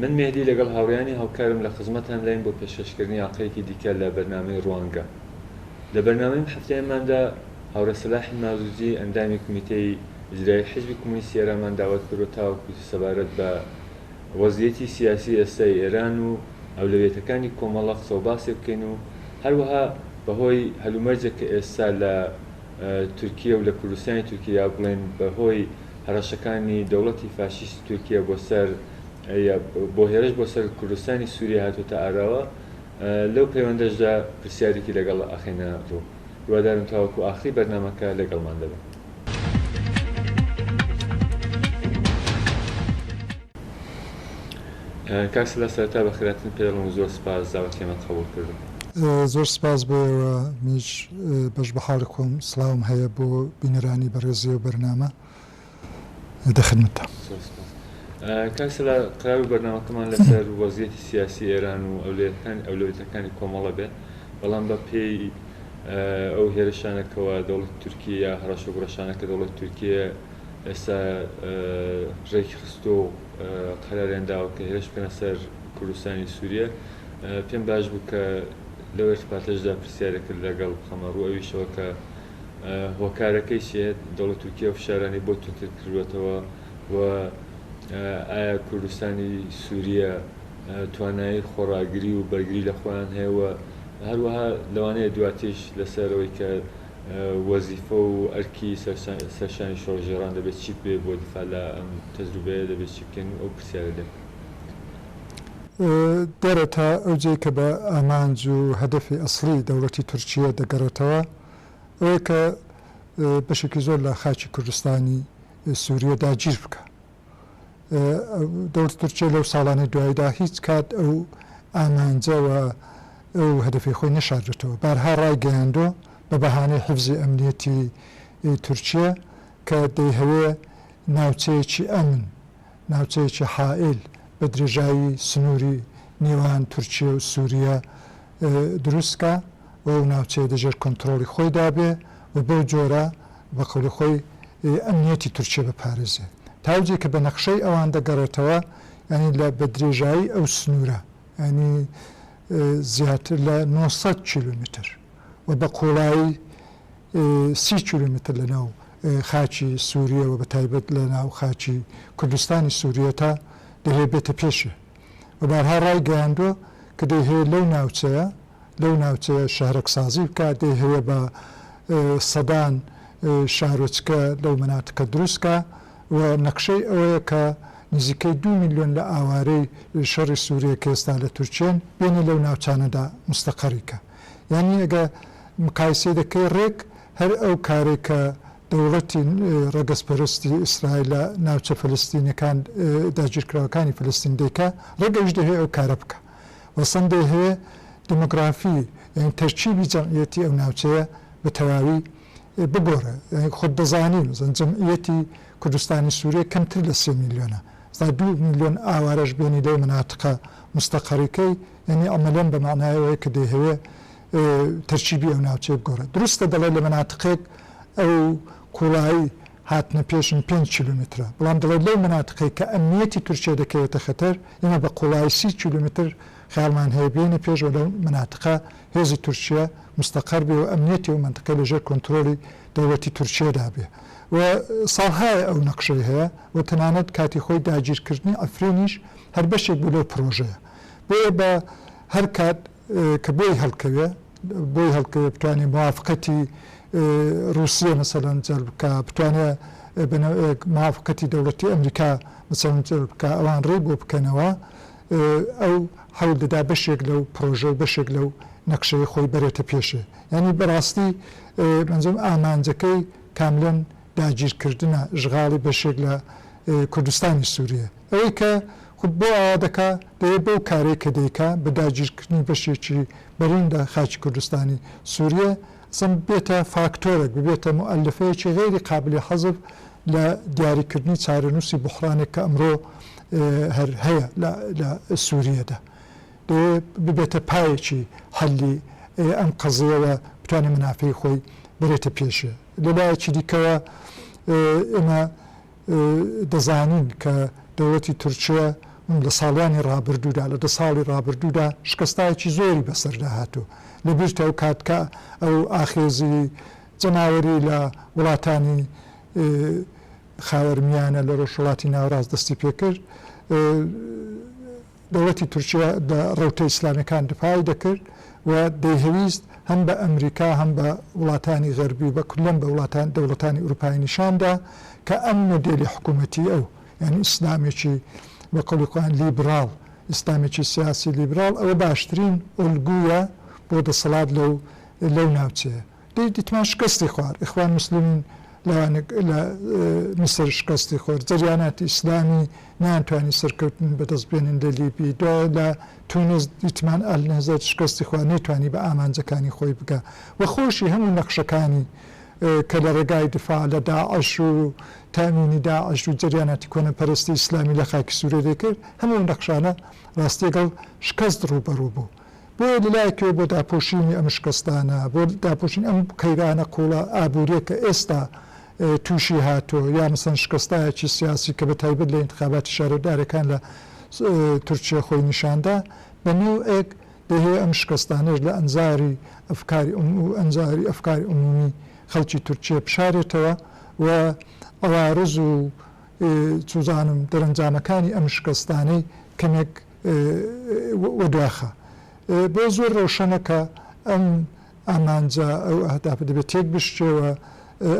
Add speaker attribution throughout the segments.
Speaker 1: من مێهدی لەگەڵ هاوڕێیانی هاوکارم لە خزمەتانداین بۆ پێشکەشکردنی ئاڵقەیەکی دیکە لە بەرنامەی ڕوانگە. لە بەرنامەی ئەم هەفتەیەماندا هاوڕێ سەلاحی مازوجی ئەندامی کومیتەی ئیجرایی حیزبی کۆمۆنیستی ئێرانمان داوەت کردوە تاوەکو سەبارەت بە وەزعیەتی سیاسی ئێستای ئێران و ئەولەویەتەکانی کۆمەڵە قسەوباسێ بکەین و هەروەها بەهۆی هەلومەرجێک کە ئێستا لە تورکییە و لە کوردستانی تورکییە یا بڵێین بە هۆی هەڕەشەکانی دەوڵەتی فاشیستی تورکییە بۆ سەر بۆ هێرش بۆ سەر کوردستانی سووریە هاتووەتە ئاراوە، لەو پەیوەندەشدا پرسیارێکی لەگەڵ ئەخەینە ڕوو. هیوادارم تاوەکو ئاخری بەرنامەکە لەگەڵمان دەبن. کاک سەلار سەرەتا بەخێراتن پێدەڵێم و زۆر سپاس داوەتیەمەت قەبووڵ کردووە. زۆر سپاس بۆ ئێوە منیش بەش بەحاڵی خۆم سڵاوم هەیە بۆ بینەرانی بەڕێزی ئەو بەرنامە دە خدمەتتام. زۆر سپاس کاک سەلا قەراربوو بەرنامەکەمان لەسەر وەزیەتی سیاسی ئێران و ئەولەویەتەکانی ئەولەویەتەکانی کۆمەڵە بێت بەڵام بە پێی ئەو هێرشانە کەوا دەوڵەتی تورکییە یا هەڕەشە و گوڕەشانە کە دەوڵەتی تورکییە ئێستا ڕێکی خستووە و قەراریان داوە کە هێرش بکەنە سەر کوردستانی سووریە، پێم باش بوو کە لەو ئیرتباطەشدا پرسیارێکت لەگەڵ بخەمە ڕوو ئەویشەوە کە هۆکارەکەی چییە دەوڵەتی تورکیا فشارانی بۆ توندتر کردووەتەوە و ئایا کوردستانی سووریە توانایی خۆڕاگری و بەرگری لە خۆیان هەیە و هەروەها لەوانەیە دواتریش لەسەر ئەوەی کە وەزیفە و ئەرکی سەرشانی شۆڕشگێڕان دەبێت چی بێت بۆ دفاع لە ئەم تەجروبەیە دەبێت چی بکەن و ئەو پرسیارە دێت. دێرێتە ئەوجێی کە بە ئامانج و هەدەفی ئەسڵی دەوڵەتی تورکییە دەگەڕێتەوە، ئەوەی کە بەشێکی زۆر لە خاکی کوردستانی سوورییە داگیر بکا. دەوڵەتی تورکیە لەو ساڵانەی دواییدا هیچ کات ئەو ئامانجە و ئەو هەدەفەی خۆی نەشاردووەتەوە، بارها ڕایگەیاندووە بە بەهانەی حیفزی ئەمنییەتی تورکیە کە دەیهەوێ ناوچەیەکی ئەمن، ناوچەیەکی حائیل بە درێژایی سنووری نێوان تورکیە و سووریە دروست کا. و ئەو ناوچەیە دەژێر کۆنتڕۆڵی خۆیدا بێ و بەو جۆرە بە قەولی خۆی ئەمنیەتی تورکیە بپارێزێ. تا ئەو جێ کە بە نەخشەی ئەوان دەگەڕێتەوە یانی لە بە درێژایی ئەو سنوورە یانی زیاتر لە نۆ سەد کیلۆمیتر و بە قووڵایی سی کیلۆمیتر لە ناو خاکی سوورییە و بە تایبەت لە ناو خاکی کوردستانی سوورییە تا دەیەوێ بێتە پێشێ. و بارها ڕایگەیاندووە کە دەیهەوێت لەو ناوچەیە لەو ناوچەیە شەهرەکسازی بکات، دەیهەوێت بە سەدان شارۆچکە لەو مەناتکە دروستکا و نەخشەی ئەوەیە کە نزیکەی دوو ملیۆن لە ئاوارەی شەڕی سووریە کە ئێستا لە تورکیەن بێنێ لەو ناوچانەدا مستەقەری کا. یانی ئەگە مقایسەی دەکەی ڕێک هەر ئەو کارەی کە دەوڵەتی ڕەگەزپەرستی ئیسرائیل لە ناوچە فەلەستینیەکان داگیرکراوەکانی فەلەستین دەیکا ڕەنگە ئەویش دەیهەوێ ئەو کارە بکا و سەن دەیهەوێ دیمۆگرافی یانی تەرکیبی جەمعیەتی ئەو ناوچەیە بە تەواوی بگۆڕێ یانی خۆت دەزانی مەسەن جەمعیەتی کوردستانی سوریە کەمتر لە سێ میلیۆنە سا دوو میلیۆن ئاوارەش بێنی لەو مناتقە مستەقەڕیکەی یانی عەمەلەن بە مەعنای ئەوەیە کە دەیهەوێ تەرکیبی ئەو ناوچەیە بگۆڕێت. دروستە دەڵێت لە مەناتقێک ئەو قوڵایی هاتنە پێشن پێنج کیلۆمەترە، بەڵام دەڵێت لەو مەناتقەی کە ئەمنییەتی تورکیە دەکەوێتە خەتەر، ئێمە بە قوڵایی سی کیلۆمەتر خەیاڵمان هەیە بیێینە پێش و لەو مەناتقە هێزی تورکیە مستەقەر بێ و ئەمنییەتی ئەو مەنتقەی لە ژێر کۆنترۆڵی دەوڵەتی تورکیەدا بێ و ساڵهایە ئەو نەقشەی هەیە و تەنانەت کاتی خۆی داگیرکردنی عەفرینیش هەر بەشێک بوو لەو پڕۆژەیە. بۆیە بە هەر کات کە بۆی هەڵکەوێ بۆی هەڵکەوێ بتوانێ موافقەتی ڕووسیە مەسەلەن جەلب بکا بتوانێ بە نەوعێک موافقەتی دەوڵەتی ئەمریکا مەسەلەن جەلب بکا ئەوان ڕێی بۆ بکەنەوە ئەو حەول دەدا بەشێک لەو پڕۆژە و بەشێک لەو نەقشەی خۆی بەرێتە پێشێ یانی بەڕاستی بەنجەم ئامانجەکەی کاملەن داگیرکردنە ژغاڵی بەشێک لە کوردستانی سووریە. ئەوەی کە خود بۆ ئاوا دەکا، دەیێ بەو کارەی کە دەیکا بە داگیرکردنی بەشێکی بەرین لە خاکی کوردستانی سووریە، ئەسڵەن ببێتە فاکتۆرێک، ببێتە موئەلەفەیەکی غەیری قابلی حەزف لە دیاریکردنی چارەنووسی بوحڕانێک کە ئەمڕۆ هەر هەیە لە سووریەدا. دەیێ ببێتە پایەکی حەلی ئەم قەزیە و بتوانێ مەنافەی خۆی بەرێتە پێشێ. لە لایەکی دیکەوە ئێمە دەزانین کە دەوڵەتی تورکیە لە ساڵیانی ڕابردوودا، لە دە ساڵی ڕابردوودا شکستایەکی زۆری بەسەردا هاتووە. لەبیرتە ئەو کات کە ئەو ئاخێزی جەماوەری لە وڵاتانی خاوەرمیانە، لە ڕۆژهەڵاتی ناوەڕاست دەستی پێ کرد، دەوڵەتی تورکیە لە ڕەوتە ئیسلامیەکان دفاعی دەکرد و دەیهەویست هەم بە ئەمریکا هەم بە وڵاتانی غەربی بە کلەن بە وڵاتان دەوڵەتانی ئوروپایی نیشان دا کە ئەم مۆدێلی حکومەتی ئەو یانی ئیسلامێکی بە قەولی خۆیان لیبراڵ ئیسلامێکی سیاسی لیبراڵ ئەوە باشترین ئۆلگویە بۆ دەسەڵات لەو لەو ناوچەیە. دەی دیتمان شکستی خوار اخوان مسلمین لەوانەک لە میسر شکستی خۆر جەریاناتی ئیسلامی نەیان توانی سەرکەوتن بەدەست بێنن لە لیبی دوایە لە تونس دیتمان ئەلنەزەر شکستی خوا نەیتوانی بە ئامانجەکانی خۆی بگا وە خۆشی هەموو نەخشەکانی کە لە ڕێگای دفاع لە داعش و تامینی داعش و جەریاناتی کۆنە پەرستی ئیسلامی لە خاکی سورە دەکرد هەموو نەخشانە ڕاستیەگەڵ شکست ڕووبەڕوو بوو. بۆیە لە لایەکەوە بۆ داپۆشینی ئەم شکستانە، بۆ داپۆشینی ئەم قەیرانە قووڵە ئابوورییە کە ئێستا تووشی هاتووە، یا مەسەن شکستایەکی سیاسی کە بە تایبەت لە ئینتخاباتی شارەودارەکان لە تورکیە خۆی نیشان دا، بە نەوعێک دەیهەوێ ئەم شکستانەش لە ئەنزاری ئەفکاری ئوم و ئەنزاری ئەفکاری ئوموومی خەڵکی تورکیە بشارێتەوە و عەوارز و چوزانم دەرەنجامەکانی ئەم شکستانەی کەمێک و دواخا. بۆ زۆر ڕەوشەنە کە ئەم ئامانجە ئەو ئەهدافە دەبێ تێک بشکێ و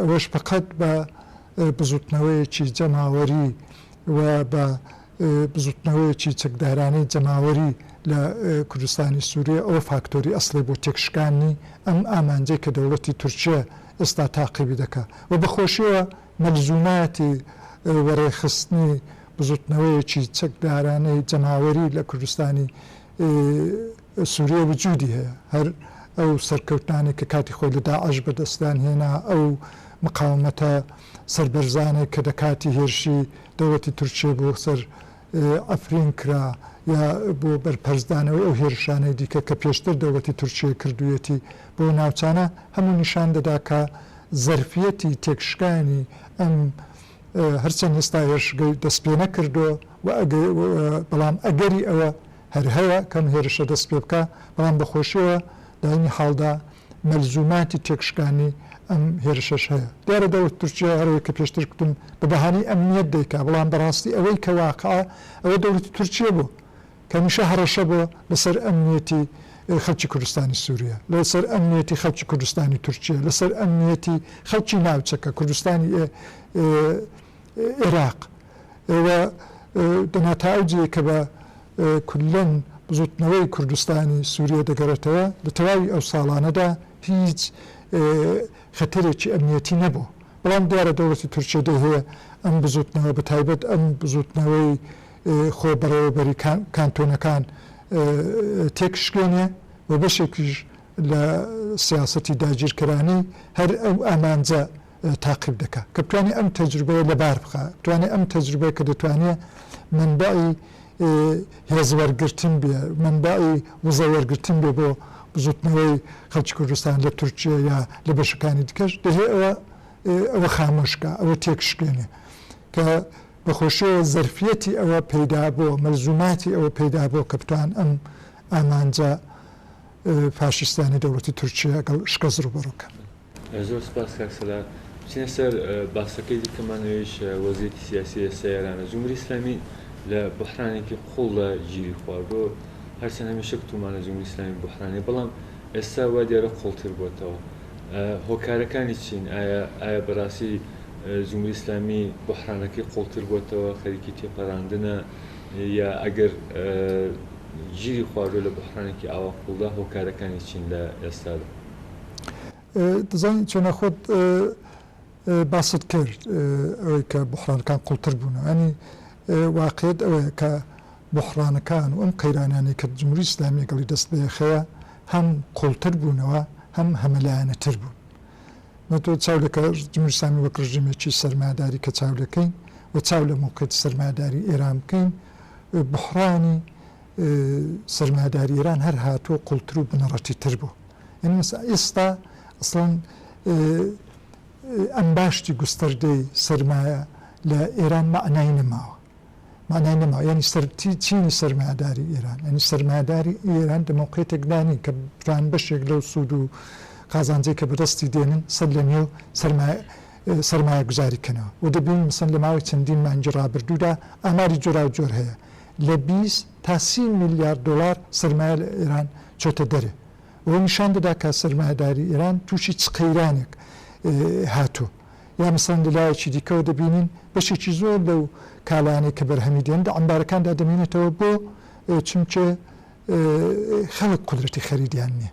Speaker 1: ئەوەش پەقەت بە بزوتنەوەیەکی جەماوەری و بە بزوتنەوەیەکی چەکدارانەی جەماوەری لە کوردستانی سوریە ئەوە فاکتۆری ئەسڵی بۆ تێک شکاننی ئەم ئامانجەی کە دەوڵەتی تورکیە ئێستا تاقیبی دەکا و بە خۆشیەوە مەلزوماتی وەڕێخستنی بزوتنەوەیەکی چەکدارانەی جەماوەری لە کوردستانی سوریە وجودی هەیە، هەر ئەو سەرکەوتنانەی کە کاتی خۆی لە داعش بەدەستیان هێنا، ئەو مقاومەتە سەربەرزانەی کە لە کاتی هێرشی دەوڵەتی تورکیە بۆ سەر ئەفرین کرا یا بۆ بەرپەرچدانەوەی ئەو هێرشانەی دیکە کە پێشتر دەوڵەتی تورکییە کردوویەتی بەو ناوچانە، هەموو نیشان دەدا کە زەرفیەتی تێکشکانی ئەم هەرچەند ئێستا هێرشگەی دەستپێنەکردووە و بەڵام ئەگەری ئەوە هەر هەیە کە ئەم هێرشە دەستپێبکا، بەڵام بە خۆشییەوە لە عەینی حاڵدا مەلزوماتی تێکشکانی ئەم هێرشەش هەیە. دیارە دەوڵەتی تورکیا هەروەک کە پێشتر کوتم بە بەهانەی ئەمنیەت دەیکا، بەڵام بە ڕاستی ئەوەی کە واقعە ئەوە دەوڵەتی تورکیە بۆ کە هەمیشە هەڕەشە بۆ لە سەر ئەمنیەتی خەڵکی کوردستانی سوریە، لە سەر ئەمنیەتی خەڵکی کوردستانی تورکیە، لە سەر ئەمنیەتی خەڵکی ناوچەکە، کوردستانی ئێراق و دەنا تا ئەو جێیە کە بە کوللەن بزووتنەوەی کوردستانی سووریە دەگەڕێتەوە، لە تەواوی ئەو ساڵانەدا هیچ خەتەرێکی ئەمنییەتی نەبوو. بەڵام دیارە دەوڵەتی تورکیە دەیهەوێ ئەم بزووتنەوە بە تایبەت ئەم بزووتنەوەی خۆبەڕێوەبەری کانتۆنەکان تێکشکێنێ و بەشێکیش لە سیاسەتی داگیرکەرانەی هەر ئەو ئامانجە تاقیب دەکا کە بتوانێ ئەم تەجروبەیە لەبار بخا بتوانێ ئەم تەجروبەیە کە دەتوانێ مەنبەعی هێز وەرگرتن بێ مەنبەعی وزە وەرگرتن بێ بۆ بزوتنەوەی خەڵکی کوردستان لە تورکیە یا لە بەشەکانی دیکەش دەهێ ئەوە ئەوە خامۆش کا ئەوە تێکشکێنێ کە بە خۆشیەوە زەرفیەتی ئەوە پەیدا بۆ مەلزوماتی ئەوە پەیدا بۆ کە بتوان ئەم ئامانجە فاشیستانەی دەوڵەتی تورکیە گەڵ شکەست ڕوبەڕو کەن. زۆر سپاس کاک سەلار. بچینە سەر باسەکەی دیکەمان ئەویش وەزیەتی سیاسی ئێستا ئێرانە. جمهوری ئیسلامی لە بوحرانێکی قوڵدا گیری خواردو هەرچەند هەمیشە گوتومانە جمهوری ئیسلامی بوحرانیە بەڵام ئێستا وا دیارە قوڵتر بۆتەوە. هۆکارەکانی چین؟ ئایا ئایا بەراستی جمهوری ئیسلامی بوحرانەکەی قوڵتر بۆتەوە خەریکی تێپەراندنە یا ئەگەر گیری خواردوە لە بوحرانێکی ئاوا قوڵدا هۆکارەکانی چین لە ئێستادا؟ دەزانی چۆنە خۆت باست کرد ئەوەی کە بوحڕانەکان قوڵتر بوون ینی واقعیت ئەوەیە کە بوحڕانەکان و ئەم قەیرانانەی کە جمهوری ئیسلامی لەگەڵی دەست بەیەخەیە هەم قوڵتر بوونەوە هەم هەمەلایەنەتر بوون نە تۆ چاو لە کە جمهوری ئیسلامی وەک ڕژیمێکی سەرمایەداری کە چاو دەکەین و چاو لە موقعیتی سەرمایەداری ئێران بکەین بوحڕانی سەرمایەداری ئێران هەر هاتووە قوڵتر و بنەڕەتیتر بووە یانی مەسە ئیستا ئەسڵەن ئەم باشتی گوستەردەی سەرمایە لە ئێران مەعنای نەماوە مەعنای نەماوە یانی سەر چینی سەرمایەداری ئێران یانی سەرمایەداری ئێران دە مەوقێتێکدانی کە بران بەشێک لەو سوود و قازانجەی کە بەدەستی دێنن سەر لە نێو سەرمایە سەرمایە گوزاری کەنەوە و دەبین مەسەن لە ماوەی چەندین مانگی ڕابردوودا ئاماری جۆرا و جۆر هەیە لە بیست تا سی میلیارد دۆلار سەرمایە لە ئێران چۆتە دەرێ و نیشان دەدا کە سەرمایەداری ئێران تووشی چ قەیرانێک هاتووە. یا مەسەڵەن لە لایەکی دیکەوە دەبینین بەشێکی زۆر لەو کالانەی کە بەرهەمی دێن لە عەمبارەکاندا دەمێنێتەوە بۆ چونکێ خەڵک قودرەتی خەریدیان نییە.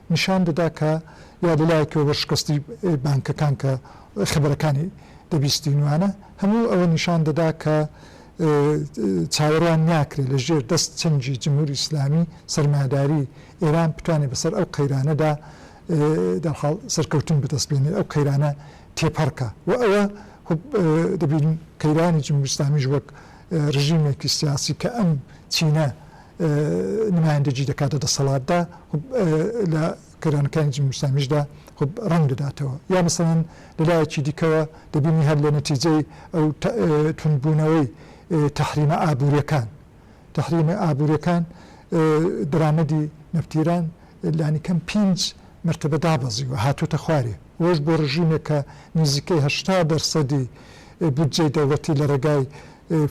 Speaker 1: نیشان دەدا کە یا لەلایەکەوە وەرشکەستی بانکەکان کە خبرەکانی دەبیستینوانە، هەموو ئەوە نیشان دەدا کە چاوەڕوان ناکرێت لە ژێر دەست چەنگی جمهوری ئیسلامی سەرمایەداری ئێران بتوانێت بەسەر ئەو قەیرانەدا دەرحاڵ سەرکەوتن بەدەست بێنێت ئەو قەیرانە تێپەڕ کا و ئەوە خۆ دەبینین قەیرانی جمهوری ئیسلامیش وەک رژیمێکی سیاسی کە ئەم چینە نمایندەگی دەکات لە دەسەڵاتدا خب لە قەیرانەکانی جمهوری ئیسلامیشدا خب ڕەنگ دەداتەوە یا مەسەڵەن لە لایەکی دیکەوە دەبینی هەر لە نەتیجەی ئەو توندبوونەوەی تەحریمە ئابووریەکان تەحریمە ئابووریەکان درامەدی نەفتیران لانیکەم پینج مرتبە دابەزیوە هاتوتە خوارێ وەش بۆ ڕژیمێک کە نیزیکەی هەشتا دەرسەدی بودجەی دەوڵەتی لە ڕێگای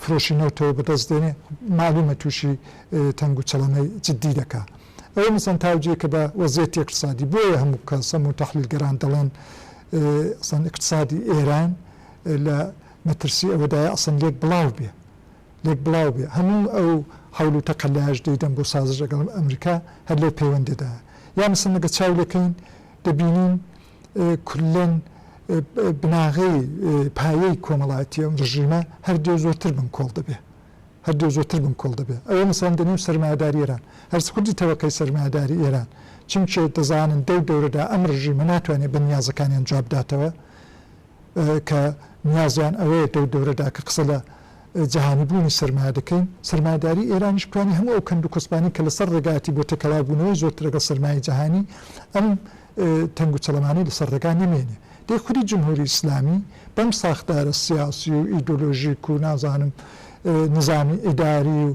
Speaker 1: فرۆشی نەوتەوە بەدەست دێنێ مالومە توشی تەنگ و چڵەمەی جدی دەکا ئەوە مەسەن تاوجیەکە بە وەزیەتی اقتصادی بۆیە هەموو کەس هەموو تەحلیل گەران دەڵێن ئەسەن اقتصادی ئێران لە مەترسی ئەوەدایە ئەسەن لێک بڵاو بێ لێک بڵاو بێ هەموو ئەو حول و تەقەلایش دەیدەن بۆ سازش لەگەڵ ئەمریکا هەر لەو پەیوەندەدا یا مەسەن نەگە چاو لەکەین دەبینین کلەن بناغەی پایەی کۆمەڵایەتی ئەم ڕژیمە هەر دێ زۆرتر بنکۆڵ دەبێ هەر دێ زۆرتر بنکۆڵ دەبێ ئەوە مەسەن دەنێم سەرمایەداری ئێران هەرس خودی تەوەقەی سەرمایەداری ئێران چونکێ دەزانن دەو دەورەدا ئەم ڕژیمە ناتوانێت بە نیازەکانیان جواب داتەوە کە نیازیان ئەوەیە دەو دەورەدا کە قسە لە جیهانی بوونی سەرمایە دەکەین سەرمایداری ئێرانیش بتوانێت هەموو ئەو کەند و کۆسپانی کە لەسەر ڕێگاتی بۆ تێکەڵاو بوونەوەی زۆرتر لەگەڵ سەرمایە جیهانی ئەم تەنگ و چەڵەمانەی لەسەر ڕێگا نەمێنێ. دەی خودی جمهوری ئیسلامی بەم ساختارە سیاسی و ئیدۆلۆژیک و نازانم نزامی ئیداری و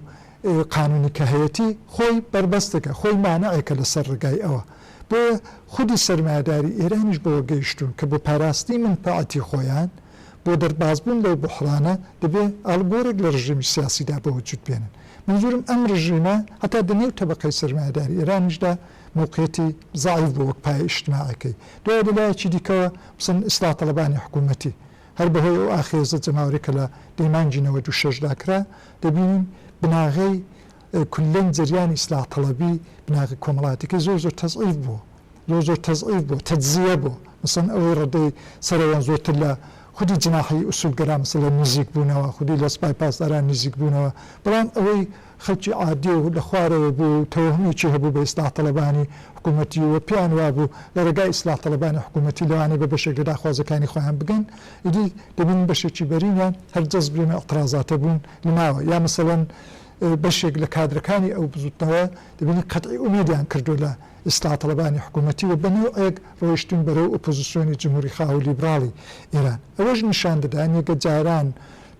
Speaker 1: قانونی کە هەیەتی خۆی بەربەستەکە، خۆی مانعێکە لەسەر ڕێگای ئەوە. بۆیە خودی سەرمایەداری ئێرانیش بەوە گەیشتوون کە بۆ پاراستنی مەنفەعەتی خۆیان، بۆ دەربازبوون لەو بوحڕانە دەبێ ئاڵوگۆرێک لە ڕژێمی سیاسیدا بەوجود بێنن. مەنزوورم ئەم ڕژیمە هەتا دە نێو تەبەقەی سەرمایەداری ئێرانیشدا، موقیتی زەعیف بوو وەک پایەی ئیشتماعیەکەی. دوای لە لایەکی دیکەوە مەسەلەن ئیسلاح تەڵەبانی حکوومەتی هەر بە هۆی ئەو ئاخێزە جەماوەریە کە لە دەی مانگی نەوەد و شەش دا کرا دەبینین بناغەی کوللەن جەریانی ئیسلاح تەڵەبی بناغە کۆمەڵاتیەکەی زۆر زۆر تەزعیف بووە زۆر زۆر تەزعیف بووە تەجزیە بووە مەسەلەن ئەوەی ڕەدەی سەرەوەن زۆرتر لە خودی جناحی ئوسوولگەرا مەسەلەن نیزیک بوونەوە خودی لە سپای پاسداران نیزیک بوونەوە بەڵام ئەوەی خەڵکی عادی و لە خوارەوە بوو و تەوەهمێکی هەبوو بە ئیسلاح تەڵەبانی حکوومەتی و پێیان وابوو لە ڕێگای ئیسلاح تەڵەبانی حکوومەتی لەوانەیە بە بەشێک لە داخوازەکانی خۆیان بگەن ئیدی دەبینین بەشێکی بەرینیان هەر جەزب لەم ئیعترازاتە بوون لە ناوە یا مەسەلەن بەشێک لە کادرەکانی ئەو بزووتنەوە دەبینین قەتعی ئومیدیان کردووە لە ئیسلاح تەڵەبانی حکوومەتی و بە نەوعێک ڕۆیشتوون بەرەو ئۆپۆزیسیۆنی جمهووریخواو و لیبراڵی ئێران ئەوەش نیشان دەدا نیگەجاران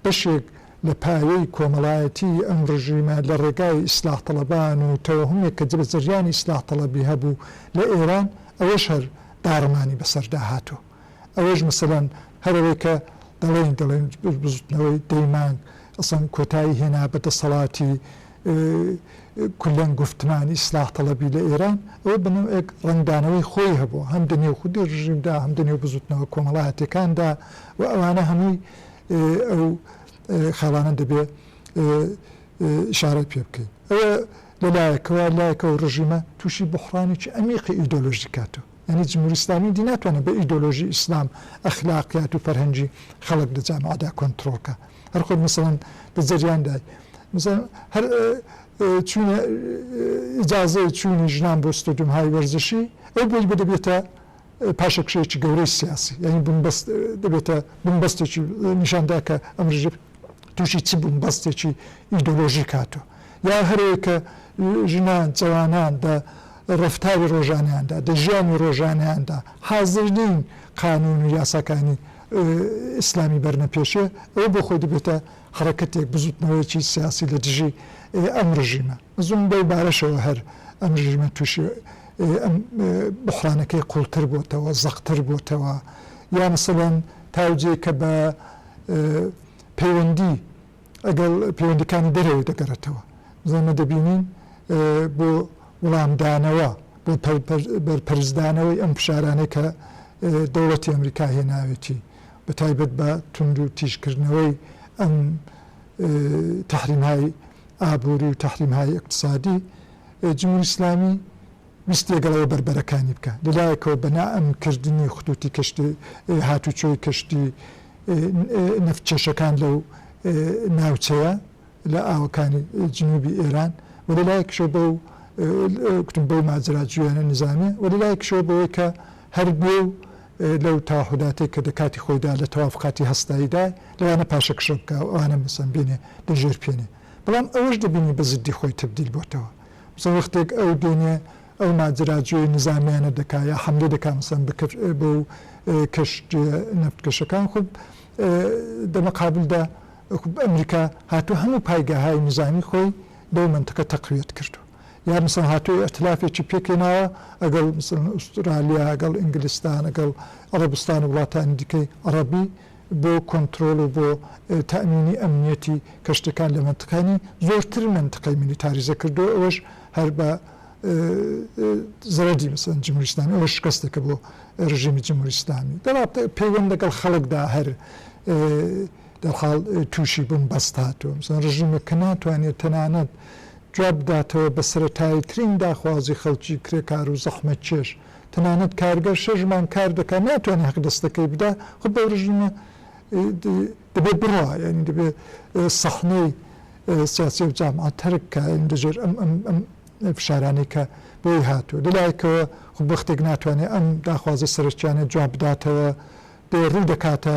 Speaker 1: بەشێک لە پایەی کۆمەڵایەتیی ئەم ڕژیمە لە ڕێگای ئیسلاح تەڵەبان و تەوەهومێک کە جبە جەریانی ئیسلاح تەڵەبی هەبوو لە ئێران ئەوەش هەر داڕمانی بەسەردا هاتووە ئەوەش مەسەلەن هەر ئەوەی کە دەڵێن دەڵێن بزوتنەوەی دەی مانگ ئەسڵەن کۆتایی هێنا بە دەسەڵاتی کولەن گوفتمان ئیسلاح تەڵەبی لە ئێران ئەوە بە نەوعێک ڕەنگدانەوەی خۆی هەبوو هەم دە نێو خودی ڕژیمدا هەم دە نێو بزوتنەوە کۆمەڵایەتیەکاندا و ئەوانە هەمووی ئەو خاڵانە دەبێ ئیشارەت پێ بکەین. ئەوە لە لایەکەوە، لایەکەوە ڕژیمە تووشی بوحڕانێکی عەمیقی ئیدۆلۆژی کاتۆ. یانی جمهوری ئیسلامی دی ناتوانێ بە ئیدۆلۆژی ئیسلام، ئەخلاقیات و فەرهەنگی خەڵک لە جامعەدا کۆنتڕۆڵ کا. هەر خۆت مەسەڵەن لە جەریاندای مەسەڵەن هەر چوونە ئیجازەی چوونی ژنان بۆ ستۆدیۆمهای وەرزشی، ئەو بۆی بە دەبێتە پاشەکشەیەکی گەورەی سیاسی یانی بنبەست دەبێتە بنبەستێکی نیشاندا کە ئەم ڕژێم تووشی چ بنبەستێکی ئیدۆلۆژیک هاتووە یا هەرەیە کە ژنان جەوانان دە ڕفتاری ڕۆژانیاندا دە ژیانی ڕۆژانیاندا حازر نین قانون و یاساکانی ئیسلامی بەرنە پێشێ ئەوە بۆ خۆی دەبێتە حرەکەتێک بزوتنەوەیەکی سیاسی لە دژی ئەم ڕژیمە زۆن بەو بارەشەوە هەر ئەم رژیمە تووشی ئەم بوحرانەکەی قوڵتر بۆتەوە زەقتر بۆتەوە یا مەسەلەن تاوجێ کە بە پەیوەندی ئەگەڵ پەیوەندیکانی دەرەوەی دەگەرێتەوە زۆمە دەبینین بۆ وڵامدانەوە بۆ بەرپەرچدانەوەی ئەم فشارانەی کە دەوڵەتی ئەمریکا هێناوێتی بە تایبەت بە توندو تیژکردنەوەی ئەم تحریمای ئابوری و تحریم های اقتصادی جمهوری اسلامی ویست لەگەڵەوە بەربەرەکانی بکا لەلایەکەوە بە نائەمن کردنی خطوطی کەشتی هاتوچۆی کەشتی نەفت کێشەکان لەو ناوچەیە لە ئاوەکانی جنوبی ئێران وە لەلایەکشەوە بەو گوتم بەو ماجرا جویانە نزامیە وە لەلایەکشەوە بەوەی کە هەر بێ و لەو تاهوداتەی کە دە کاتی خۆیدا لە تەواف کاتی هەستاییدا لەوانە پاشەکشە بکا و ئەوانە مەسەن بێنێ لە ژێر پێنێ بەڵام ئەوەش دەبینی بە زدی خۆی تەبدیل بۆتەوە مەسەن وەختێک ئەو دێنێ ئەو ماجراجوێی نزامیانە دەکا یا حەملە دەکا مەسەن بە کەش بەو کەشتیە نەفتکەشەکان خۆب دە مەقابلدا ئەمریکا هاتوو هەموو پایگاهای نزامی خۆی لەو مەنتقە تەقویەت کردوە. یا مەسەلەن هاتووە ئیتلافێکی پێکهێناوە ئەگەڵ مەسەلەن ئوسترالیا، ئەگەڵ ئینگلستان، ئەگەڵ عەڕەبستان و وڵاتانی دیکەی عەڕەبی بۆ کۆنترۆڵ و بۆ تەئمینی ئەمنیەتی کەشتیەکان لە مەنتقەنی زۆرتر مەنتقەی میلیتاریزە کردووە ئەوەش هەر بە زەرەدی مەسەلەن جمهوری ئیسلامی ئەوەش شکەستێکە بۆ ڕژیمی جمهوری ئیسلامی دەڵا پەیوەند لەگەڵ خەڵکدا هەر دەرحاڵ تووشی بوون بەست هاتووە مەسەلەن ڕژیمێک کە ناتوانێت تەنانەت جواب بداتەوە بە سەرەتاییترین داخوازی خەڵکی کرێکار و زەحمەتکێش، تەنانەت کارگەر شەش مانگ کار دەکات ناتوانێت حەقدەستەکەی بدا، خۆ بەوردژمە دەبێت بڕوا یانی دەبێت سەحنەی سیاسی و جامعە تەرک کا یانی لەژێر ئەم ئەم ئەم فشارانەی کە بۆی هاتووە لەلایەکەوە خۆ بەختێک ناتوانێت ئەم داخوازە سەرەکیانە جواب بداتەوە بێ ڕوو دەکاتە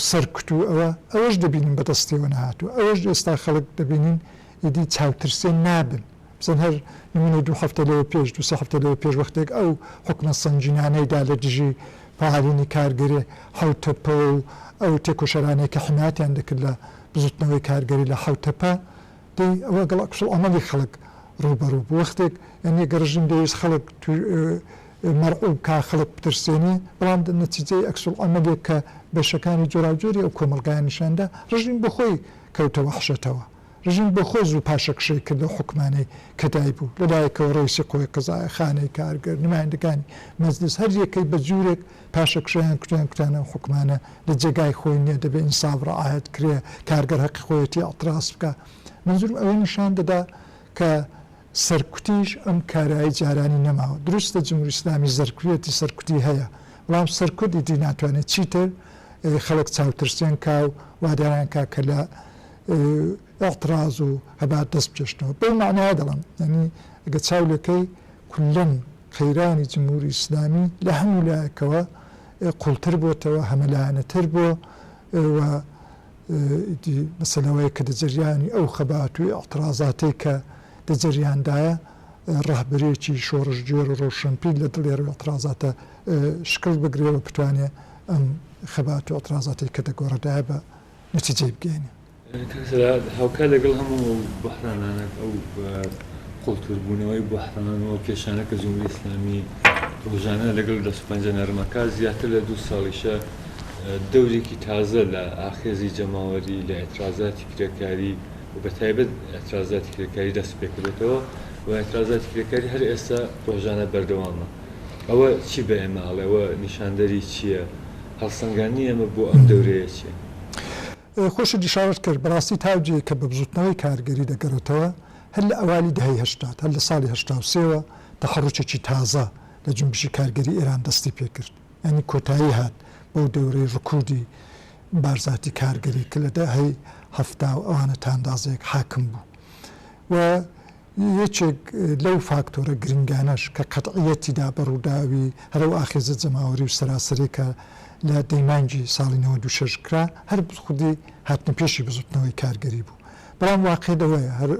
Speaker 1: سەرکوت و ئەوە ئەوەش دەبینین بەدەستیەوە نەهاتووە ئەوەش ئێستا خەڵک دەبینین ئیدی چاوترسێن نابن. بزن هەر نمونەی دوو هەفتە لەوە پێش دوو سێ هەفتە لەوە پێش وەختێک ئەو حوکمە سەنگینانەی دا لە دژی فەعالینی کارگەری حەوتەپە و ئەو تێکۆشەرانەی کە حمایەتیان دەکرد لە بزوتنەوەی کارگەری لە حەوتەپە دەی ئەوە گەڵ ئەکس العملی خەڵک ڕوبەڕو بو وەختێک یانی گە ڕژیم دەویست خەڵک مەرعوب کا خەڵک بترسێنێ بەڵام دە نەتیجەی ئەکس العملیک کە بەشەکانی جۆراوجۆری ئەو کۆمەڵگایان نیشان دا ڕژیم بە خۆی کەوتە وەحشەتەوە. رژیم بۆ خۆی زوو پاشەکشەی کرد لەو حوکمانەی کە دایبوو، لە لایەکەوە رەیسی قوەی قەزایە، خانەی کارگەر، نمایندەکانی مەجلیس، هەر یەکەی بە جوورێک پاشەکشەیان کرد و یان کوتیان ئەو حوکمانە لە جێگای خۆی نیە، دەبێ ئینساف رەعایەت کرێ، کارگەر هەقی خۆیەتی ئیعتراز بکا. منزورم ئەوە نیشان دەدا کە سەرکوتیش ئەم کارایی جارانی نەماوە. دروستە جموری ئیسلامی زەرکویەتی سەرکوتی هەیە، بەڵام سەرکوت ئیدی ناتوانێ چیتر خەڵک چاوترسێن کا و واداریان کا کە لە ئیعتراز و هەبات دەست بکێشنەوە. بەو مەعنایە دەڵێم، یانی ئەگەر چاو لێکەی کوللەن قەیرانی جمهوری ئیسلامی لە هەموو لایەکەوە قووڵتر بۆتەوە، هەمەلایەنەتر بۆ و ئیدی بەسە لەوەی کە دە جەریانی ئەو خەبات و ئیعترازاتەی کە دە جەریاندایە ڕەهبەرێکی شۆڕشگێر و ڕەوشەنپیر لە دڵێر و ئیعترازاتە شکڵ بگرێ و بتوانێ ئەم خەبات و ئیعترازاتەی کە دە گۆڕێدایە بە لە چ جێی بگەینێ هاوکار لەگەڵ هەموو ئەو بەحرانانە ئەو قوڵتربوونەوەی بەحران و کێشانە کە جمهوری ئیسلامی ڕۆژانە لەگەڵ دەست پەنجە نەرمەکە زیاتر لە دوو ساڵیشە دەورێکی تازە لە ئاخێزی جەماوەری لە ئەترازاتی کرێکاری و بە تایبەت ئەترازاتی کرێکاری دەست پێکردێتەوە و ئەترازاتی کرێکاری هەر ئێستا ڕۆژانە بەردەوامە ئەوە چی بە ئێمە ئەڵێ؟ ئەوە نیشاندەری چییە؟ هەڵسەنگاندنی ئێمە بۆ ئەم دەورەیە چییە؟ خۆشت ئیشارەت کرد، بەڕاستی تاوجێیە کە بە بزووتنەوەی کارگەری دەگەڕێتەوە هەر لە ئەوایلی دەهەی هەشتاد، هەر لە ساڵی هەشتا و سێ وە تەحەڕوکێکی تازە لە جونبشی کارگەری ئێران دەستی پێ کرد، یانی کۆتایی هات بەو دەورەی ڕکوودی بارزاتی کارگەری کە لە دەهەی هەفتا و ئەوانە تا ئەندازەیەک حاکم بوو و یەکێک لەو فاکتۆرە گرنگانەش کە قەتعییەتی دا بە ڕووداوی هەر ئەو ئاخێزە جەماوەری و سەراسەرییە کە لە دەی مانگی ساڵی نەوەد و شەش کرا، هەر خودی هاتنەپێشی بزووتنەوەی کارگەری بوو. بەڵام واقیع لەوەیە، هەر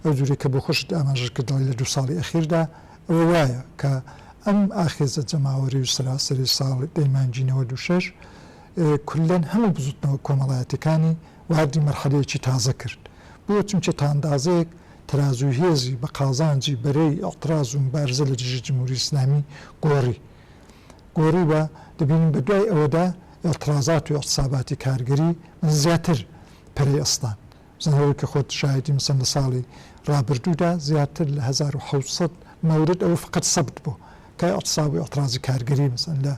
Speaker 1: ئەو جورەی کە بۆ خۆشت ئاماژەت کرد دەڵێی لە دوو ساڵی ئەخیر دا، ئەوە وایە کە ئەم ئاخێزە جەماوەری و سەراسەری ساڵ دەی مانگی نەوەد و شەش کوللەن هەموو بزووتنەوە کۆمەڵایەتییەکانی واردی مەرحەلەیەکی تازە کرد. بۆ؟ چونکە تا ئەندازەیەک تەرازووی هێزی بە قازانجی بەرەی ئیعتراز و موبارزە لە دژی جمهوری ئیسلامی گۆڕی گۆڕی و دەبینین بە دوای ئەوەدا ئیعترازات و ئیعتساباتی کارگەری من زیاتر پەرەی ئەستان بزانە وەک کە خۆت شایدی مەسەن لە ساڵی ڕابردوودا زیاتر لە هەزار و حەوت سەد مەورد ئەوە فقەت سەبت بۆ کە ئیعتساب و ئیعترازی کارگەری مەسەن لە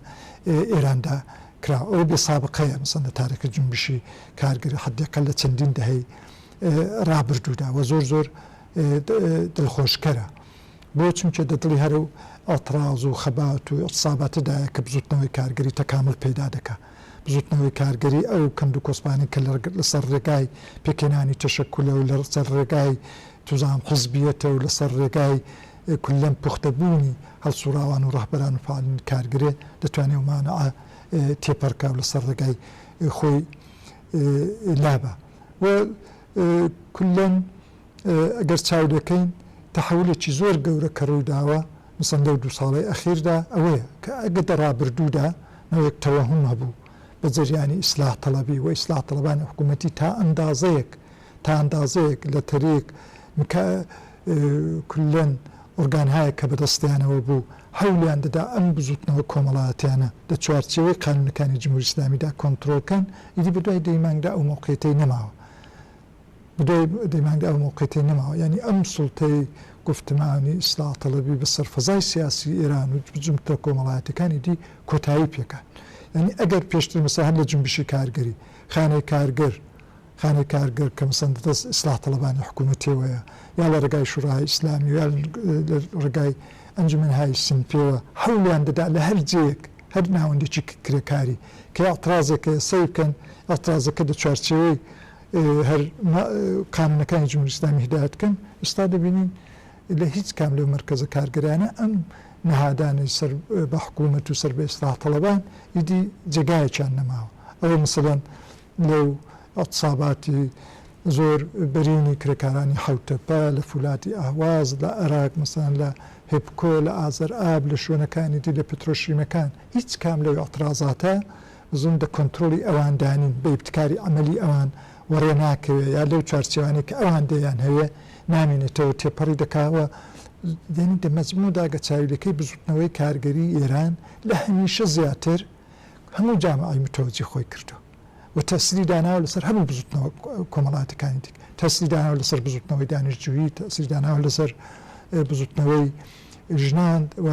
Speaker 1: ئێراندا کرا ئەوە بێسابقەیە مەسەن لە تارێکی جنبشی کارگەری حدێقە لە چەندین دەهەی ڕابردوودا وە زۆر زۆر دڵخۆشکەرە بۆ چونکە دە دڵی هەرەو ئەتڕاز و خەبات و ئەتساباتدایە کە بزوتنەوەی کارگەری تەکامل پەیدا دەکا بزوتنەوەی کارگەری ئەو کەند و کۆسپانەی کە لە سەر ڕێگای پێکهێنانی تەشەکولە و لە سەر ڕێگای توزان حیزبیەتە و لە سەر ڕێگای کولەن پوختە بوونی هەڵسوڕاوان و ڕەهبەران و فەعالین کارگەرێ دەتوانێ ئەو مانعە تێپەڕکا و لە سەر ڕێگای خۆی لابا. و کوللەن ئەگەر چاو لێکەین تەحەولێکی زۆر گەورە کە ڕوویداوە مەسەڵەن لەو دوو ساڵەی ئەخیردا ئەوەیە کە ئەگەر دە ڕابردوودا نەوەیەک تەوەهوم هەبوو بە جەریانی ئیسلاح تەڵەبی و ئیسلاح تەڵەبانی حکوومەتی تا ئەندازەیەک تا ئەندازەیەک لە تەریک کوللەن ئۆرگانهایەک کە بەدەستیانەوە بوو هەوڵیان دەدا ئەم بزووتنەوە کۆمەڵایەتیانە لە چوارچێوەی قانوونەکانی جمهوری ئیسلامیدا کۆنترۆڵ کەن، ئیدی بەدوای دەی مانگدا ئەو مەوقیتەی نەماوە. بەدوای دەی مانگدا ئەو مەوقیتەی نەماوە. یانی ئەم سوڵتەی گوفتمانی، ئیسلاح تەڵەبی، بەسەر فەزای سیاسی ئێران و بزووتنە کۆمەڵایەتیەکان ئیدی کۆتایی پێکات. یانی ئەگەر پێشتر مەسەلەن هەر لە جنبشی کارگەری، خانەی کارگر، خانەی کارگەر کە مسەندە دەست ئیسلاح تەڵەبانی حکوومەتیەوەیە یا لە رێگای شوراهای ئیسلامی و یا لە رێگای ئەنجومەنهای سینفیەوە حەولیان دەدا لە هەر جێیەک هەر ناوەندێکی کرێکاری کە ئیعترازێک هەیە سەی بکەن، ئیعترازەکە لە چوارچێوەی هەر قانوونەکانی جمهوری ئیسلامی هیدایەت بکەن، ئێستا دەبینین لە هیچ کام لەو مەرکەزە کارگەرانە ئەم نەهادانەی سەر بە حکوومەت و سەر بە ئیسلاح تەڵەبان ئیدی جێگایەکیان نەماوە ئەوە مەسەلەن لەو عتساباتی زۆر بەرینی کرێکارانی حەوتەپە، لە فولاتی ئەهواز، لە ئەراک مەسەلەن لە هێپکۆ، لە ئازەر ئاب، لە شوێنەکانی دی لە پترۆشیمەکان، هیچ کام لەو ئعترازاتە زن دە کۆنترۆڵی ئەوان دا نین، بە ئیبتکاری عەمەلی ئەوان وەڕێ ناکەوێ یا لەو چوارچێوانەی کە ئەوان دەیان هەوێ نامینێتەوە تێپەڕی دەکا و یەنی دە مەزموو دا گە چاویلەکەی بزوتنەوەی کارگەری ئێران لە هەمیشە زیاتر هەموو جامعەی متەوەجی خۆی کردووە و تەئسیری داناوە لەسەر هەموو بزوتنەوە کۆمەڵاتەکانی دیکە تەئسیری داناوە لەسەر بزوتنەوەی دانیشتجویی تەئسیری داناوە لەسەر بزوتنەوەی ژنان و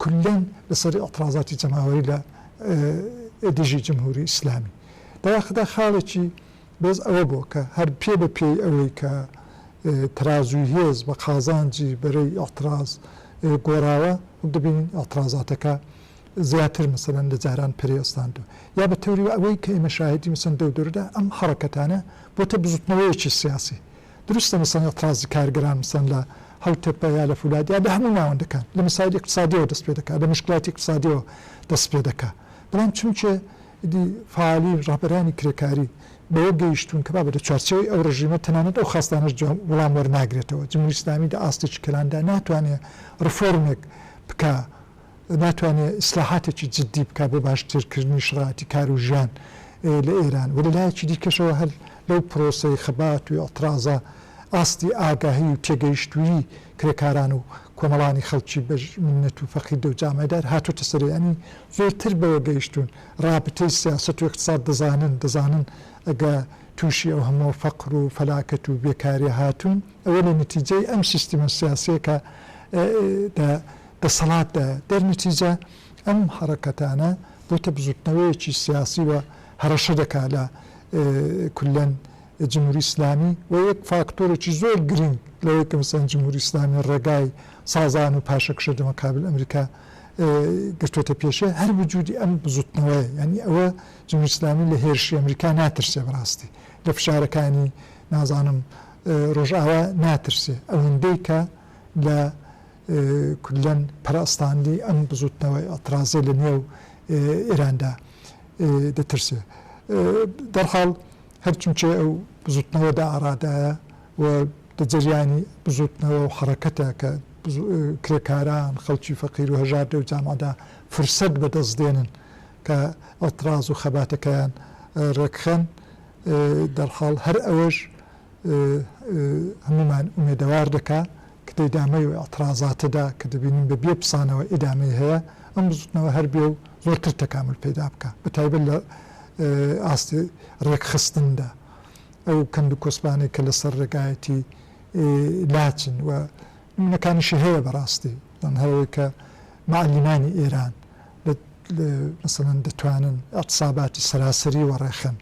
Speaker 1: کولەن لەسەر ئیعترازاتی جەماوەری لە دژی جمهوری ئیسلامی دەواخدا خاڵێکی بەرز ئەوە بووە کە هەر پێ بە پێی ئەوەی کە تەرازووی هێز بە قازانجی بەرەی ئیعتراز گۆڕاوە دەبینین ئیعترازاتەکە زیاتر مەسەلەن لە جاران پەرێ ئەستاندوە یا بە تەوری وە ئەوەی کە ئێمە شاهێدی مەسەن دەو دوردا ئەم حەڕەکەتانە بۆتە بزوتنەوەیەکی سیاسی دروستە مەسەن ئێتڕازی کارگەران مەسەن لە هەو تەپە یا لە فولاد یا لە هەموو ناوەندەکان لە مەسایل ئیقتسادیەوە دەست پێ دەکا لە مشکلاتی ئیقتسادیەوە دەست پێ دەکا بەڵام چونکێ ئیدی فالی ڕابەرانی کرێکاری بەوە گەیشتون کە بابە لە چوارچێوەی ئەو ڕژیمە تەنانەت ئەو خاستانەش جواب وڵام وەرناگرێتەوە جموری ئیسلامی دە ئاستێکی کەلاندا ناتوانێ ڕفۆرمێک بکا ناتوانێ ئیسلاحاتێکی جددی بکا بۆ باشترکردنی شەڕاتی کار و ژیان لە ئێران و لە لایەکی دیکەشەوە هەر لەو پرۆسەی خەبات و ئیعتڕازە ئاستی ئاگاهی و تێگەیشتوویی کرێکاران و کۆمەڵانی خەڵکی بە منەت و فەقیر لەو جامای دار هاتۆتە سەرێ یانی زۆرتر بەوە گەیشتوون ڕابتەی سیاسەت و ئیقتساد دەزانن دەزانن ئەگە تووشی ئەو هەمووە فەقر و فەلاکەت و بێکاریە هاتوون ئەوە لە نەتیجەی ئەم سیستمە سیاسیە کە دە دەسەڵاتدایە، دەرنەتیجە ئەم حەڕەکەتانە بۆتە بزوتنەوەیەکی سیاسی و هەڕەشە دەکا لە کوللەن جموری ئیسلامی و یەک فاکتۆرێکی زۆر گرینگ لەوەی کە مەسەن جموری ئیسلامی ڕێگای سازان و پاشەکشە دەمەقابل ئەمریکا گرتوتە پێشێ هەر بجودی ئەم بزوتنەوەیە یعنی ئەوە جموری ئیسلامی لە هێرشی ئەمریکا ناترسێ بەڕاستی لە فشارەکانی نازانم ڕۆژئاوا ناترسێ ئەوەندەی کە لە کوللەن پەرەستاندنی ئەم بزووتنەوە ئیعترازیە لە نێو ئێراندا دەترسێ. دەرحاڵ هەر چونچێ ئەو بزووتنەوە دە ئارادایە و دە جەریانی بزووتنەوە و حەڕەکەتە کە کرێکاران، خەڵکی فەقیر و هەژار دەو جامەعدا فرسەت بە دەس دێنن کە ئیعتراز و خەباتەکەیان ڕێکخەن. دەرحاڵ هەر ئەوەش هەموومان ئومێدەوار دەکا ک دە ئیدامەی و ئعترازاتەدا ک دەبینین بە بێ پسانەوە ئیدامەی هەیە ئەم بزوتنەوە هەر بێ و زۆرتر تەکامول پەیدا بکا بە تایبەت لە ئاستی رێکخستندا ئەو کەند و کۆسپانەی کە لە سەر رێگایەتی لاچن و نمونەکانیشی هەیە بە راستی یان هەیە کە معەلیمانی ئێران لە مەسەلەن دەتوانن ئعتساباتی سەراسەری وەڕێخەن.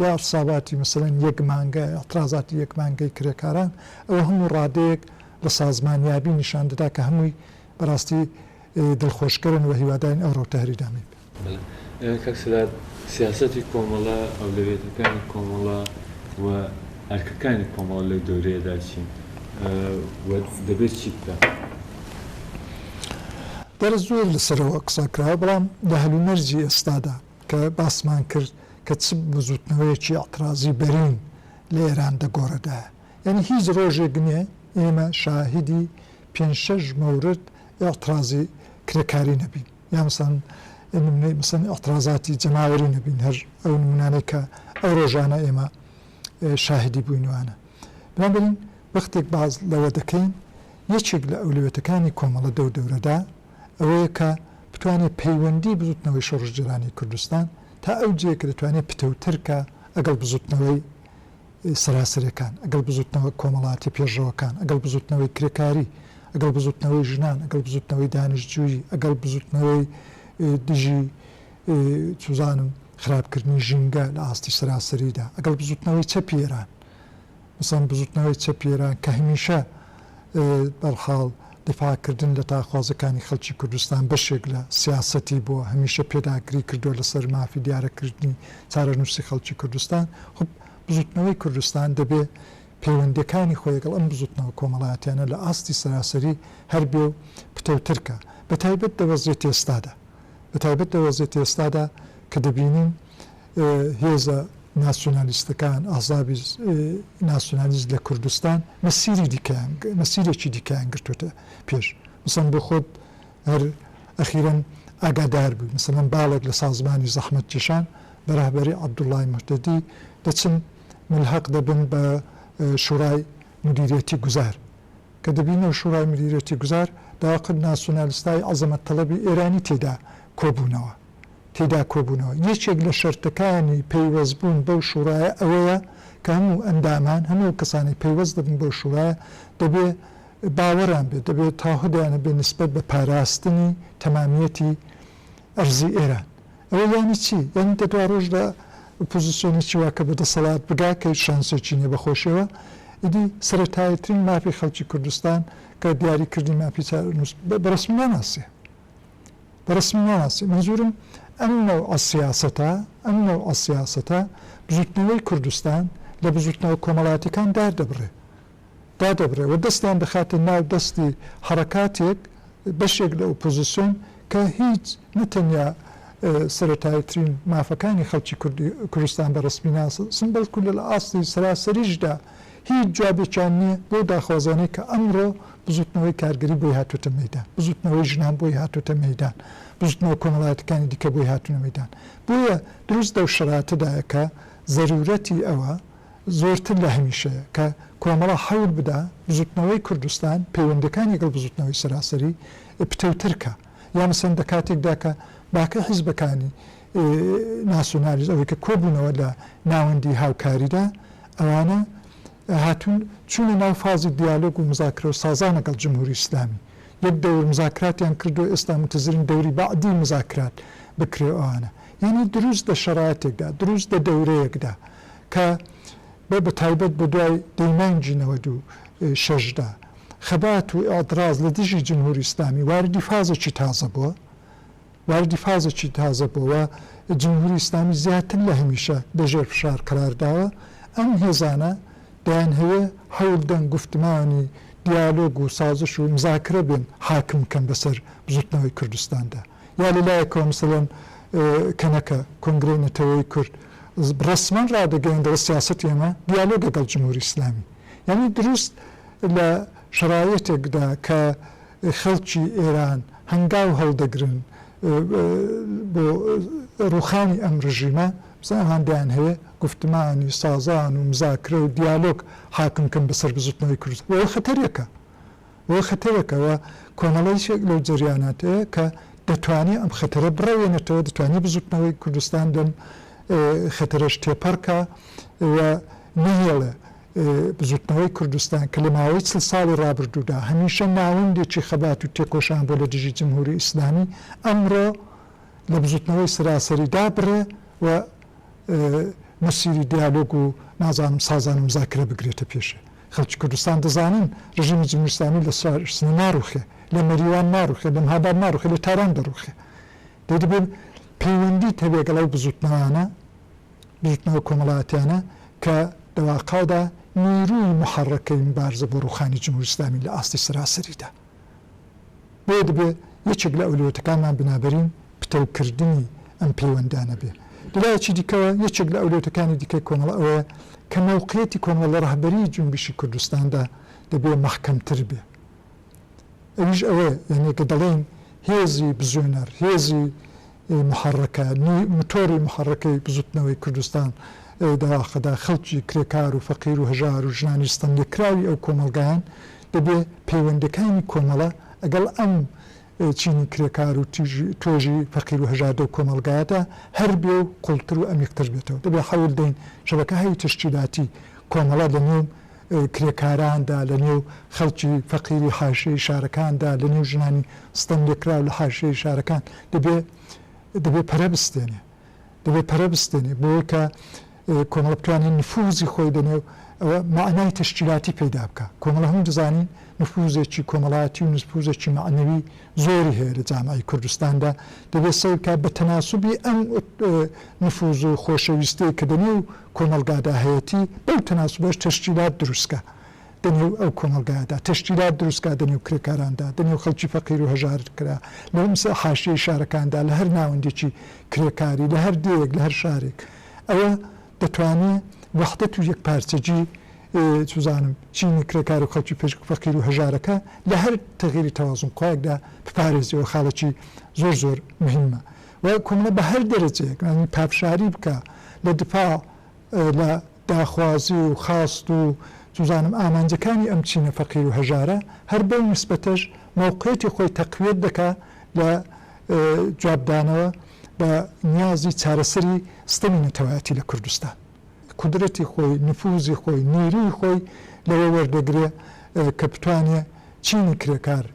Speaker 1: یا اعتصاباتی مەسەلەن یەک مانگە، اعتراضاتی یەک مانگەی کرێکاران، ئەوە هەموو ڕادەیەک لە سازمانیابی نیشان دەدا کە هەمووی بە ڕاستی دڵخۆشکەرن و هیوادارین ئەو ڕەوتە هەر ئیدامەی بێت. بەڵێ کاک سرار، سیاسەتی کۆمەڵە، ئەولەویەتەکانی کۆمەڵە و ئەرکەکانی کۆمەڵە لەو دەورەیەدا چین و دەبێت چی بکات؟ دیارە زۆر لەسەرەوە قسە کراوە، بەڵام لە هەلومەرجی ئێستادا، کە باسمان کرد کە چ بزووتنەوەیەکی ئیعترازی بەرین لە ئێران دەگۆڕێدایە. یانی هیچ رۆژێک نییە ئێمە شاهیدی پێنج شەش مەورد ئیعترازی کرێکاری نەبین. یا مەسەڵەن نمونەی مەسەڵەن ئیعترازاتی جەماوەری نەبین. هەر ئەو نمونانەی کە ئەو رۆژانە ئێمە شاهیدی بووین وانە. بنابەنین وەختێک باس لەوە دەکەین یەکێک لە ئەولەوێتەکانی کۆمەڵە دەو دەورەدا، ئەوەیە کە بتوانێ پەیوەندی بزوتنەوەی شۆڕشگێرانی کوردستان تا ئەو جێیە کە دەتوانێ پتەوتر کا ئەگەڵ بزوتنەوەی سەراسەرێکان، ئەگەڵ بزوتنەوە کۆمەڵاتی پێشڕەوەکان، ئەگەڵ بزوتنەوەی کرێکاری، ئەگەڵ بزوتنەوەی ژنان، ئەگەڵ بزوتنەوەی دانشجویی، ئەگەڵ بزوتنەوەی دژی چوزانم خراپکردنی ژینگە لە ئاستی سەراسەریدا، ئەگەڵ بزوتنەوەی چەپی ئێران. مەسەڵەن بزوتنەوەی چەپی ئێران کە هەمیشە بەرحاڵ دیفاع کردن لە تاکخوازەکانی خەڵکی کوردستان بەشێک لە سیاسەتی بووە، هەمیشە پێداگری کردووە لەسەر مافی دیارە کردنی چارەنووسی خەڵکی کوردستان، خۆ بزوتنەوەی کوردستان دەبێ پەیوەندیەکانی خۆی لەگەڵ ئەم بزوتنەوە کۆمەڵاتیانە لە ئاستی سەراسەری هەر بێ و پتەوتر کا بەتایبەت لە وەزیەتی ئێستادا بەتایبەت لە وەزیەتی ئێستادا کە دەبینین هێزە ناسیۆنالیستەکان، ئەحزابی ناسیۆنالیست لە کوردستان مەسیری دیکەیان، مەسیرێکی دیکەیان گرتووتە پێش. مەسەن بۆ خۆت هەر ئەخیرەن ئاگادار بووی، مەسەلەن باڵێک لە سازمانی زەحمەتکێشان بە رەهبەری عەبدوڵڵای موهتەدی دەچن مولهەق دەبن بە شوڕای مودیریەتی گوزار. کە دەبینە شوڕای مودیریەتی گوزار داواکرد ناسیۆنالیستای عەزەمەت تەڵەبی ئێرانی تێدا کۆبوونەوە. تیدا کۆبوونەوە. یەکێک لە شەرتەکانی پەیوەستبوون بەو شوڕایە ئەوەیە کە هەموو ئەندامان، هەموو ئەو کەسانەی پەیوەست دەبن بەو شوڕایە، دەبێ باوەڕیان بێت، دەبێ تاهدیان هەبێ نسبەت بە پاراستنی تەمامییەتی ئەرزی ئێران. ئەوە یانی چی؟ یانی دە دواڕۆژدا ئۆپۆزیسیۆنێکی وا کە بە دەسەڵات بگا، کە هیچ شانسێکی نییە بە خۆشییەوە، ئیدی سەرەتاییترین مافی خەڵکی کوردستان کە دیاریکردنی مافی چارەنووس بە رەسمی ناناسێ. بە ڕەسمی ناناسی مەنزورم ئەم نەوعە سیاسەتە ئەم نەوعە سیاسەتە بزوتنەوەی کوردستان لە بزوتنەوە کۆمەڵاتیەکان داردەبڕێ دادەبڕێ و دەستیان دەخاتە ناو دەستی حەڕەکاتێک بەشێک لە ئۆپۆزسیۆن کە هیچ نە تەنیا سەرەتایترین مافەکانی خەڵکی کوردستان بە ڕەسمی ناسن بەڵکو لە لە ئاستی سەراسەریشدا هیچ جوابێکیان نییە بەو داخوازانەی کە ئەمڕۆ بزوتنەوەی کارگەری بۆی هاتۆتە مەیدان، بزوتنەوەی ژنان بۆی هاتۆتە مەیدان، بزوتنەوە کۆمەڵایەتەکانی دیکە بۆی هاتونە مەیدان. بۆیە دروست لەو شەراتەدایە کە زەرورەتی ئەوە زۆرتر لە هەمیشەیە کە کۆمەڵە حەول بدا بزوتنەوەی کوردستان پەیوەندیەکانی گەڵ بزوتنەوەی سەراسەری پتەوتر کا. یا مەسەن دە کاتێکدا کە باقی حیزبەکانی ناسیۆنالیست ئەوەی کە کۆبوونەوە لە ناوەندی هاوکاریدا ئەوانە هاتوون چوونە ناو فازی دیالۆگ و مزاکرە و سازان لەگەڵ جمهوری ئیسلامی یەک دەور مزاکراتیان کردووە ئێستا متزرین دەوری بەعدی مزاکرات بکرێ ئەوانە یعنی دروست دە شەراتێکدا دروست دە دەورەیەکدا کە بە بەتایبەت بە دوای دەی مانگی نەوەد و شەش دا خەبات و ئیعتراز لە دژی جمهوری ئیسلامی واردی فازێکی تازە بووە، واردی فازێکی تازە بووە و جمهوری ئیسلامی زیاتر لە هەمیشە لە ژێر فشار قەرار داوە. ئەم هێزانە دەیانهەوێ حەول دەنگ، گوفتمانی، دیالۆگ و سازش و مزاکرە بێن حاکم بکەن بەسەر بزووتنەوەی کوردستاندا. یا لە لایەکەوە مەسەلەن کەنەکە، کۆنگرەی نەتەوەیی کورد، ڕەسمەن ڕادەگەیەن دەڵێ سیاسەتی ئێمە دیالۆگە گەڵ جمهوری ئیسلامی. یانی دروست. لە شەڕایتێکدا کە خەڵکی ئێران هەنگاو هەڵدەگرن بۆ ڕووخانی ئەم ڕژیمە، بزن ئەوان دەیانهەوێ گوفتمانی سازان و مزاکرە و دیالۆگ حاکم کەن بەسەر بزوتنەوەی کوردستان و ئەوە خەتەرێکە ئەوە خەتەرێکە و کۆمەڵەیشێک لەو جەریاناتەیە کە دەتوانێ ئەم خەتەرە بڕەوێنێتەوە دەتوانێ بزوتنەوەی کوردستان لەم خەتەرەش تێپەڕکا و نەهێڵێ بزوتنەوەی کوردستان کە لە ماوەی چڵ ساڵی ڕابردوودا هەمیشە ناوەندێکی خەبات و تێکۆشان بووە لە دژی جمهوری ئیسلامی، ئەمڕۆ لە بزوتنەوەی سەراسەری دابڕێ و مەسیری دیالۆگ و نازانم سازان و مزاکرە بگرێتە پێشێ. خەڵکی کوردستان دەزانن ڕژیمی جمهوری ئیسلامی لە سنە ناڕوخێ، لە مەریوان ناڕوخێ، لە مهاباد ناڕوخێ، لە تاران دەڕوخێ. دەی دەبێ پەیوەندیت هەبێ گەڵ ئەو بزوتنەوانە. بزوتنەوە کۆمەڵایەتیانە کە لە واقعدا نیرووی موحەڕەکەی موبارزە بۆ ڕوخانی جمهوری ئیسلامین لە ئاستی سەراسەریدا بۆیە دەبێ یەکێک لە ئەولەویەتەکانمان بنابەرین پتەوکردنی ئەم پەیوەندانە بێ لە لایەکی دیکەوە یەکێک لە ئەولەویەتەکانی دیکەی کۆمەڵە ئەوەیە کە مەوقعیەتی کۆمەڵە لە ڕەهبەریی جونبشی کوردستاندا دەبێ مەحکەمتر بێ ئەویش ئەوەیە یانی کە دەڵێین هێزی بزوێنەر هێزی ی محەڕەکە نی متۆڕی محەڕەکەی بزوتنەوەی کوردستان دەواخەدا خەڵکی کرێکار و فەقیر و هەژار و ژنانی ستەم لێکراوی ئەو کۆمەڵگایەن دەبێ پەیوەندەکانی کۆمەڵە ئەگەڵ ئەم چینی کرێکار و تیژ توێژی فەقیر و هەژار دەو کۆمەڵگایەدا هەر بێ و قوڵتر و ئەمیقتر بێتەوە دەبێ حەول دەین شەبەکە هەی تەشکیلاتی کۆمەڵە لە نێو کرێکاراندا، لە نێو خەڵکی فەقیری حاشیەی شارەکاندا، لە نێو ژنانی ستەم لێکراو لە حاشیەی شارەکان، دەبێ دەبێ پەرە بستێنێ، دەبێ پەرە بستێنێ، بۆیە کە کۆمەڵە بتوانێ نفووزی خۆی لە نێو ئەوە مەعنای تەشکیلاتی پەیدا بکا. کۆمەڵە هەموو دەزانین نفووزێکی کۆمەڵایەتی و نفووزێکی مەعنەوی زۆری هەیە لە جامعەی کوردستاندا، دەبێ سەیر بکا بە تەناسوبی ئەم نفووز و خۆشەویستیەی کە لە نێو کۆمەڵگادا هەیەتی بەو تەناسوبەش تەشکیلات دروستکا دەنێو ئەو کۆمەڵگایەدا تەشکیلات دروستکا دەنێو کرێکاراندا دەنێو خەڵکی فەقیرو هەژارکرا لە حاشیەی شارەکاندا لەهەر ناوەندێکی کرێکاری لەهەر دێیەک لەهەر شارێک ئەوە دەتوانێ وەحدەت و یەکپارچەگی چزانم چینی کرێکارو خەڵکی پشک فەقیرو هەژارەکە لەهەر تەغیری تەوازنخوایەکدا بپارێزیەوە خاڵێکی زۆر زۆر مهمە و کۆمەڵە بە هەر دەرەجەیەک یانی پافشاری بکا لە دفاع لە داخوازی و خواست و چزانم ئامانجەکانی ئەم چینە فەقیر و هەژارە هەر بەو نیسبەتەش مەوقعیەتی خۆی تەقویەت دەکا لە جوابدانەوە بە نیازی چارەسەری ستەمی نەتەوایەتی لە کوردستان. قودرەتی خۆی، نفوزی خۆی، نیروی خۆی لەوە وەردەگرێ کە بتوانێ چینی کرێکار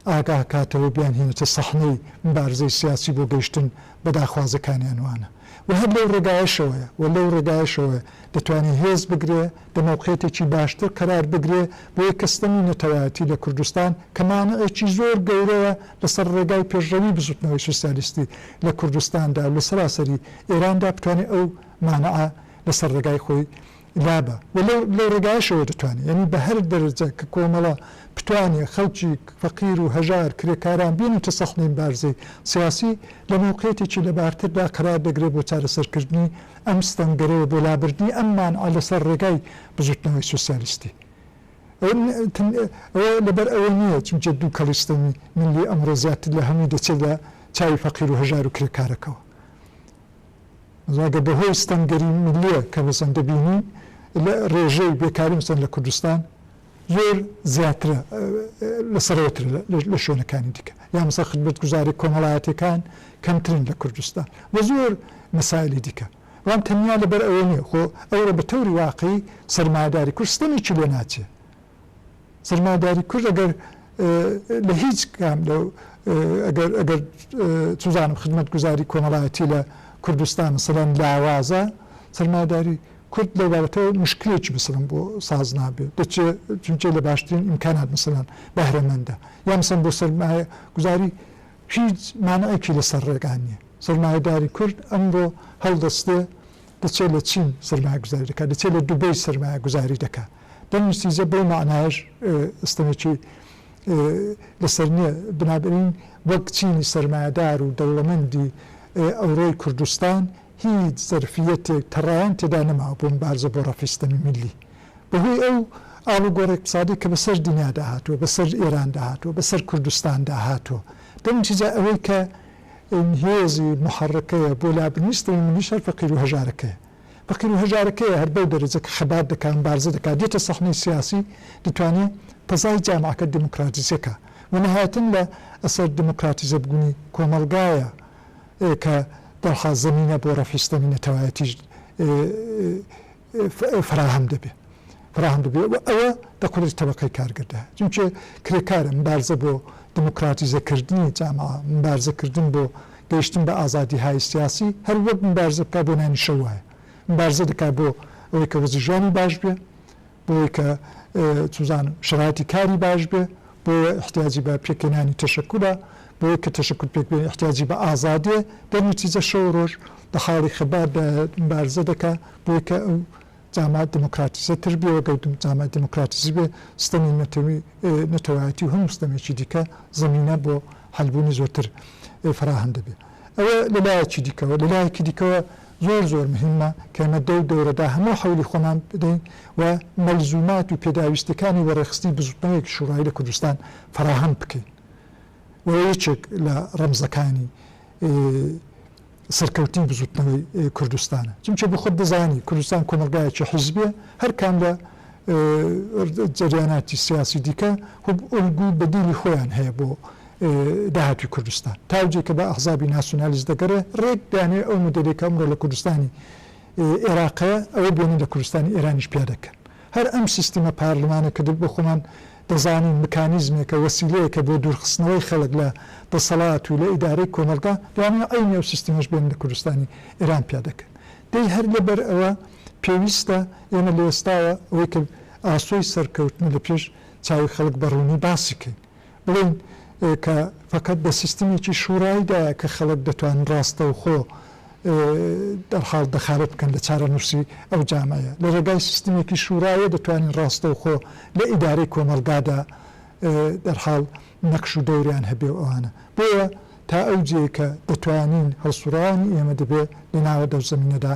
Speaker 1: ئاگاهکاتەوە بیانهێنێتە سەحنەی مبارزەی سیاسی بۆ گەیشتن بە داخوازەکانیان وانە و هەر لەو ڕێگایەشەوەیە و لەو ڕێگایەشەوە دەتوانێ هێز بگرێ دە مەوقعیتێکی باشتر قەرار بگرێ بۆیە کە ستەمی نەتەوایەتی لە کوردستان کە مانعێکی زۆر گەورەیە لەسەر ڕێگای پێشڕەوی بزوتنەوەی سوسیالیستی لە کوردستاندا و لە سەراسەری ئێراندا بتوانێ ئەو مانعە لەسەر ڕێگای خۆی لابە و لەو لەو ڕێگایەشەوە دەتوانێ یەنی بە هەر دەرەجە کە کۆمەڵە بتوانێ خەڵکی فەقیر و هەژار کرێکاران بێنێتە سەف میمبارزەی سیاسی لە مەوقێتێکی لەبارتردا قەرار دەگرێ بۆ چارەسەر کردنی ئەم ستەمگەرەوە بۆ لابردنی ئەم مانعە لەسەر ڕێگای بزوتنەوەی سوسیالیستی ئەوە لەبەر ئەوە نییە چونکە دوکەڵی ستەمی ملی ئەمڕۆ زیاتر لە هەمووی دەچێت لە چاوی فەقیر و هەژار و کرێکارەکەوە. ڕەنگە بەهۆی ستەمگەری میللیە کە مەسەن دەبینی لە ڕێژەی بێکاری مەسەن لە کوردستان زۆر زیاترە لە سەرەوەتر لە شوێنەکانی دیکە یا مەسە خدمەتگوزاری کۆمەڵایەتەکان کەمترن لە کوردستان و زۆر مەسایلی دیکە بەڵام تەنیا لەبەر ئەوە نیە خۆ ئەوڕۆ بە تەوری واقعی سەرمایەداری کورد ستەمێکی لێ ناچێ سەرمایەداری کورد ئەگەر لە هیچ کام لە ئەگەر ئەگەر چزانم خدمەتگوزاری کۆمەڵایەتی لە کوردستان سەرەن لاوازە سەرمایەداری کورد لەو بابەتەوە مشکلێکی بسڵم بۆ ساز نابێت دەچێ چونچێ لە باشترین ئیمکانات مثلەن بەهرەمەندە یا مثلەن بۆ سەرمایە گوزاری هیچ مانعێکی لەسەر ڕێگا نییە سەرمایەداری کورد ئەمڕۆ هەڵدەستێ دەچێت لە چین سەرمایە گوزاری دەکات دەچێت لە دوبەی سەرمایە گوزاری دەکات دەموستیزە بەو مەعنایەش ستەمێکی لەسەر نییە، بنابەنین وەک چینی سەرمایەدار و دەوڵەمەندی ئەوڕۆی کوردستان هیچ زەرفییەتێک تەڕایان تێدا نەماوە بۆ مبارزە بۆ ڕەفعی ستەمی میللی بەهۆی ئەو ئاڵوگۆڕ ئیقتسادی کە بەسەر دنیادا هاتووە، بەسەر ئێراندا هاتووە، بەسەر کوردستاندا هاتووە. دەموتیزە ئەوەی کە هێزی موحەڕکەیە بۆ لابردنی ستەمی میللیش هەر فەقیر و هەژارەکەیە. فەقیر و هەژارەکەیە هەر بەو دەرەجە کە خەبات دەکا مبارزە دەکا دێتە سەحنەی سیاسی دەتوانێ تەزای جامعەکە دێمۆکراتیزە کا وە نەهایەتەن لە ئەسەر دێمۆکراتیزە بوونی کۆمەڵگایە کە دەرحاز زەمینە بۆ رەفعی ستەمی نەتەوایەتیش فەراهەم دەبێ. فەراهەم ببێ و ئەوە لە قودرەتی تەبەقەی کارگەردا، چونکێ کرێکارە، مبارزە بۆ دموکراتیزە کردنی جاماوە، مبارزە کردن بۆ گەیشتن بە ئازادی های سیاسی، هەر وەک مبارزە بکا بۆ نانی شەو وایە، مبارزە دەکا بۆ ئەوەی کە وەزعی ژیانی باش بێ، بۆ ئەوەی کە چوزانم شەرایتی کاری باش بێ، بۆ ئەوە ئیحتیاجی بە پێکهێنانی تەشەکولە، بۆ ئەوەی کە تەشەکول پێک بێنێ ئیحتیاجی بە ئازادیە، دەرنەتیجە شەو و رۆژ لە حاڵی خەبات دایە، مبارزە دەکا بۆ ئەوەی کە ئەو جامە دیموکراتیزە تر بێ و گەر جامە دیموکراتیزی بێ ستەمی نەتەوی نەتەوایەتی و هەموو ستەمێکی دیکە زەمینە بۆ حەلبوونی زۆرتر فەراهەم دەبێ ئەوە لە لایەکی دیکەوە لە لایەکی دیکەوە زۆر زۆر مهمە کە ئێمە دەو دەورەدا هەموو حەولی خۆمان بدەین و مەلزومات و پێداویستیەکانی وەڕێخستنی بزوتنەوەیەکی شوڕایی لە کوردستان فەراهەم بکەین و یەکێک لە ڕەمزەکانی سەرکەوتنی بزوتنەوەی کوردستانە چونکە بۆ خۆت دەزانی کوردستان کۆمەڵگایەکی حیزبیە هەر کام لە جەریاناتی سیاسی دیکە خۆب ئۆلگو و بەدیلی خۆیان هەیە بۆ داهاتوی کوردستان تاوجی کە بە ئەحزابی ناسیونالیست دەگەرێ رێک دانێ ئەو مودێلی کە ئەمرۆ لە کوردستانی ئێراقەیە ئەوە بۆنی لە کوردستانی ئێرانیش پیادەکەن هەر ئەم سیستمە پارلمانە کە دل بۆ خۆمان دەزانین مکانیزمێکە، وەسیلەیەکە بۆ دوورخستنەوەی خەڵک لە دەسەڵات و لە ئیدارەی کۆمەڵگا، لەوانەیە عەینی ئەو سیستمەش بێن لە کوردستانی ئێران پیاد دەکەن. دەی هەر لەبەر ئەوە پێویستە ئێمە لە ئێستاوە ئەوەی کە ئاسۆی سەرکەوتنە لە پێش چاوی خەڵک بە ڕوونی باسی کەین. بڵێین کە فەقەت لە سیستمێکی شوڕاییدایە کە خەڵک دەتوان ڕاستەوخۆ دەرحاڵ دەخالەت بکەن لە چارەنووسی ئەو جامەیە، لە رێگای سیستمێکی شوورایە دەتوانین راستەوخۆ لە ئیدارەی کۆمەڵگادا دەرحاڵ نەقش و دەوریان هەبێ و ئەوانە. بۆیە تا ئەو جێیە کە دەتوانین هەڵسوڕاوانی ئێمە دەبێ لە ناوە دەو زەمینەدا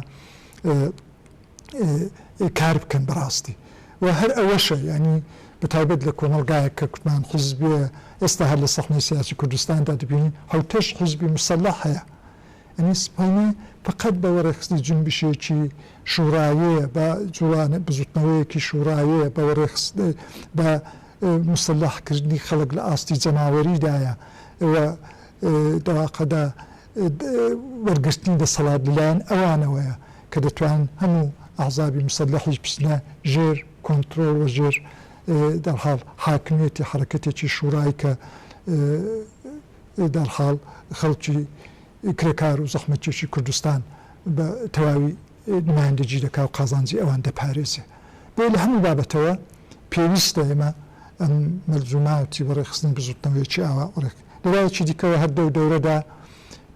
Speaker 1: کار بکەن بە راستی و هەر ئەوەشە یانی بە تایبەت لە کۆمەڵگایەک کە کوتمان حیزبیە ئێستا هەر لە سەحنەی سیاسی کوردستاندا دەبینین حەوتەش حیزبی موسەلەح هەیە یەعنی سپەینێ فەقەت بە وەڕێخستنی جنبشێکی شوڕاوێ بە جوڵانێ بزوتنەوەیەکی شوڕاوێ بە وەڕێخست بە موسلەح کردنی خەڵک لە ئاستی جەماوەریدایە و دەواقەدە وەرگرتنی دەسەڵات لەلایەن ئەوانەوەیە کە دەتوان هەموو ئەحزابی موسلەحیش بچنە ژێر کۆنترۆڵ و ژێر دەرحاڵ حاکمیەتی حەرەکەتێکی شوڕای کە دەرحاڵ خەڵکی کرێکار و زەحمەتکێشی کوردستان بە تەواوی نمایندەجی دەکا و قازانجی ئەوان دەپارێزێ. بۆیە لە هەموو بابەتەوە پێویستە ئێمە ئەم مەلزووماتی بۆ ڕێکخستنی بزووتنەوەیەکی ئاوا ڕێک لە لایەکی دیکەوە هەر دەو دەورەدا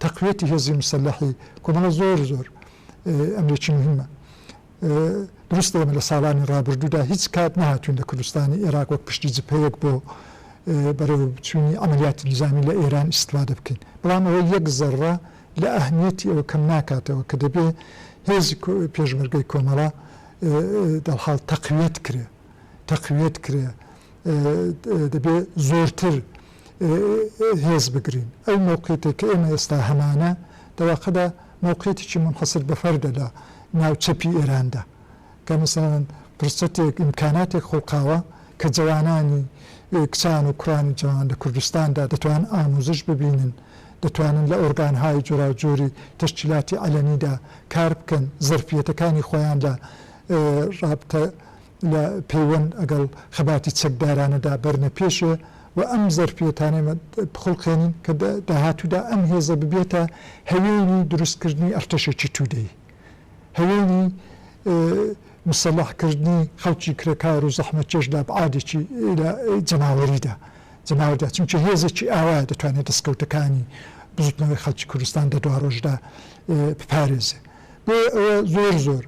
Speaker 1: تەقویەتی هێزی مسەلەحی کۆمەڵە زۆر زۆر ئەمرێکی موهیمە. دروستە ئێمە لە ساڵانی ڕابردوودا هیچ کات نەهاتووین لە کوردستانی ئێراق وەک پشتی جبهەیەک بۆ بەرەوچوونی عەمەلیاتی نیزامی لە ئێران ئیستفادە بکەین، بەڵام ئەوە یەک زەڕڕە لە ئەهمییەتی ئەوە کەم ناکاتەوە کە دەبێ هێزی پێشمەرگەی کۆمەڵە دەرحاڵ تەقویەت کرێ تەقویەت کرێ دەبێ زۆرتر هێز بگرین ئەو مەوقیتێک کە ئێمە ئێستا هەمانە دەواقەدا موقعیتێکی منحصر بەفەردە لە ناو چەپی ئێراندا کە مەسەلەن فرسەتێک، ئیمکاناتێک خوڵقاوە کە جەوانانی، کچان و کوڕانی جەوان لە کوردستاندا دەتوانن ئامووزش ببینن، دەتوانن لە ئۆرگانهای جۆراوجۆری تەشکیلاتی عەلەنیدا کار بکەن، زەرفیەتەکانی خۆیان لە رابتە، لە پەیوەند ئەگەڵ خەباتی چەکدارانەدا بەرنە پێشێ و ئەم زەرفیەتانەی بخوڵقێنین کە دە داهاتوودا ئەم هێزە ببێتە هەوێنی دروستکردنی ئەرتەشێکی توودەیی، هەوێنی مسەلەح کردنی خەڵکی کرێکار و زەحمەتکێش لە ئەبعادێکی لە جەماوەریدا جەماوەردا چونکە هێزێکی ئاوا دەتوانێ دەسکەوتەکانی بزووتنەوەی خەڵکی کوردستان دە دواڕۆژدا بپارێزێ بۆیە ئەوە زۆر زۆر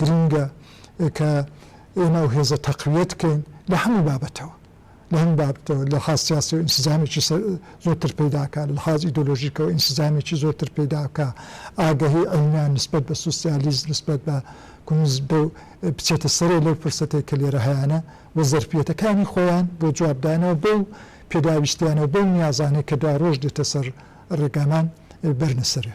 Speaker 1: گرینگە کە ئێمە ئەو هێزە تەقویەت کەین لە هەموو بابەتەوە لە هەموو بابەتەوە لە خاس سیاسەوە ئینسجامێکی زۆرتر پەیداکە لە خاز ئیدۆلۆژیکەوە ئینسجامێکی زۆرتر پەیداکە ئاگەهی عەینا نسبەت بە سوسیالیز نسبەت بە کونز بە بچێتە سەرێ لەو فرسەتێک کە لێرە هەیانە و زەرفیەتەکانی خۆیان بۆ جوابدانەوە بەو پێداویستیانەوە بەو نیازانەی کە دوا ڕۆژ دێتە سەر ڕێگامان بەرنە سەرێ.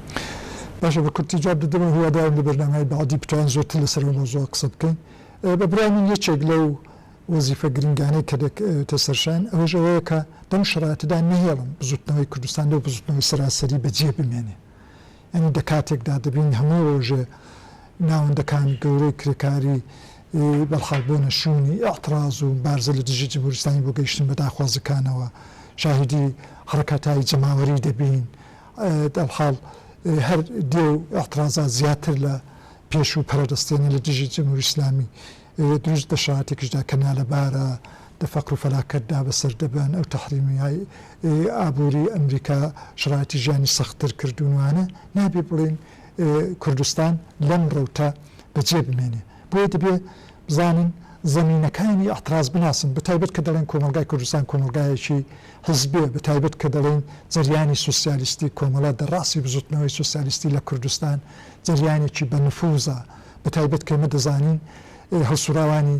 Speaker 1: باشە بە کورتی جواب دەدەمەوە هیوادارم لە بەرنامەی بەعدی بتوان زۆرتر لەسەر ئەو مەوزوعە قسە بکەین بە برای من یەکێک لەو وەزیفە گرنگانەی کە دەکەوێتە سەرشان ئەوەش ئەوەیە کە لەم شەراتەدا نەهێڵن بزوتنەوەی کوردستان لەو بزوتنەوەی سەراسەری بەجێ بمێنێ یعنی دە کاتێکدا دەبین هەموو ڕۆژێ ناوەندەکان گەورەی کرێکاری بەڵخاڵ بۆنە شوێنی ئاعتراز و بارزە لە دژی جمهوریستانی بۆ گەیشتن بە داخوازەکانەوە شاهدی حڕکەتایی جەماوەری دەبین دەبحاڵ هەر دێ و ئیعترازات زیاتر لە پێشوو پەرەرستێنە لە دژی جمهوری ئیسلامی دروست دە شەراتێکیشدا کە نالەبارە دە فەقر و فەلاکەتدا بە سەر دەبەن ئەو تەحریمیای ئابووری ئەمریکا شەراتی ژیانی سەختتر کردوون وانە نابێ بڵێن کوردستان لەم ڕەوتە بە جێ بمێنێ بۆیە دەبێ بزانن، زەمینەکانی ئیعتراز بناسن، بەتایبەت کە دەڵێن کۆمەڵگای کوردستان کۆمەڵگایەکی حیزبییە، بەتایبەت کە دەڵێن جەریانی سوسیالیستی کۆمەڵە دە ڕاسی بزوتنەوەی سوسیالیستی لە کوردستان جەریانێکی بە نفوزە، بەتایبەت کە ئێمە دەزانین هەڵسوڕاوانی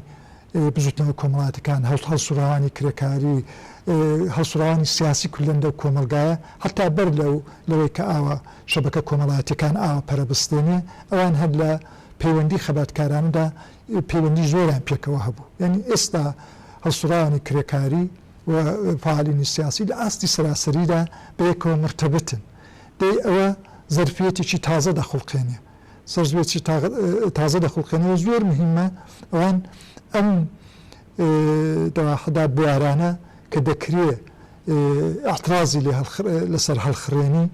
Speaker 1: بزوتنەوە کۆمەڵاتیکان، هەڵسوڕاوانی کرێکاری، هەڵسوڕاوانی سیاسی کولەن لەو کۆمەڵگایە حەتا بەر لەو لەوەی کە ئاوا شەبەکە کۆمەڵاتیکان ئاوا پەرە بستێنێ ئەوان هەر لە پەیوەندی خەباتکارانەدا پەیوەندی زۆریان پێکەوە هەبوو یانی ئێستا هەڵسوڕاوانی کرێکاری و فەعالینی سیاسی لە ئاستی سەراسەریدا بەیەکەوە مورتەبتن دەی ئەوە زەرفیەتێکی تازە دەخوڵقێنێ زەرفیەتێکی تازە دەخوڵقێنێ و زۆر مهیمە ئەوان ئەم دەواحەدا بوارانە کە دەکرێ ئیعترازی لەسەر هەڵخڕێنی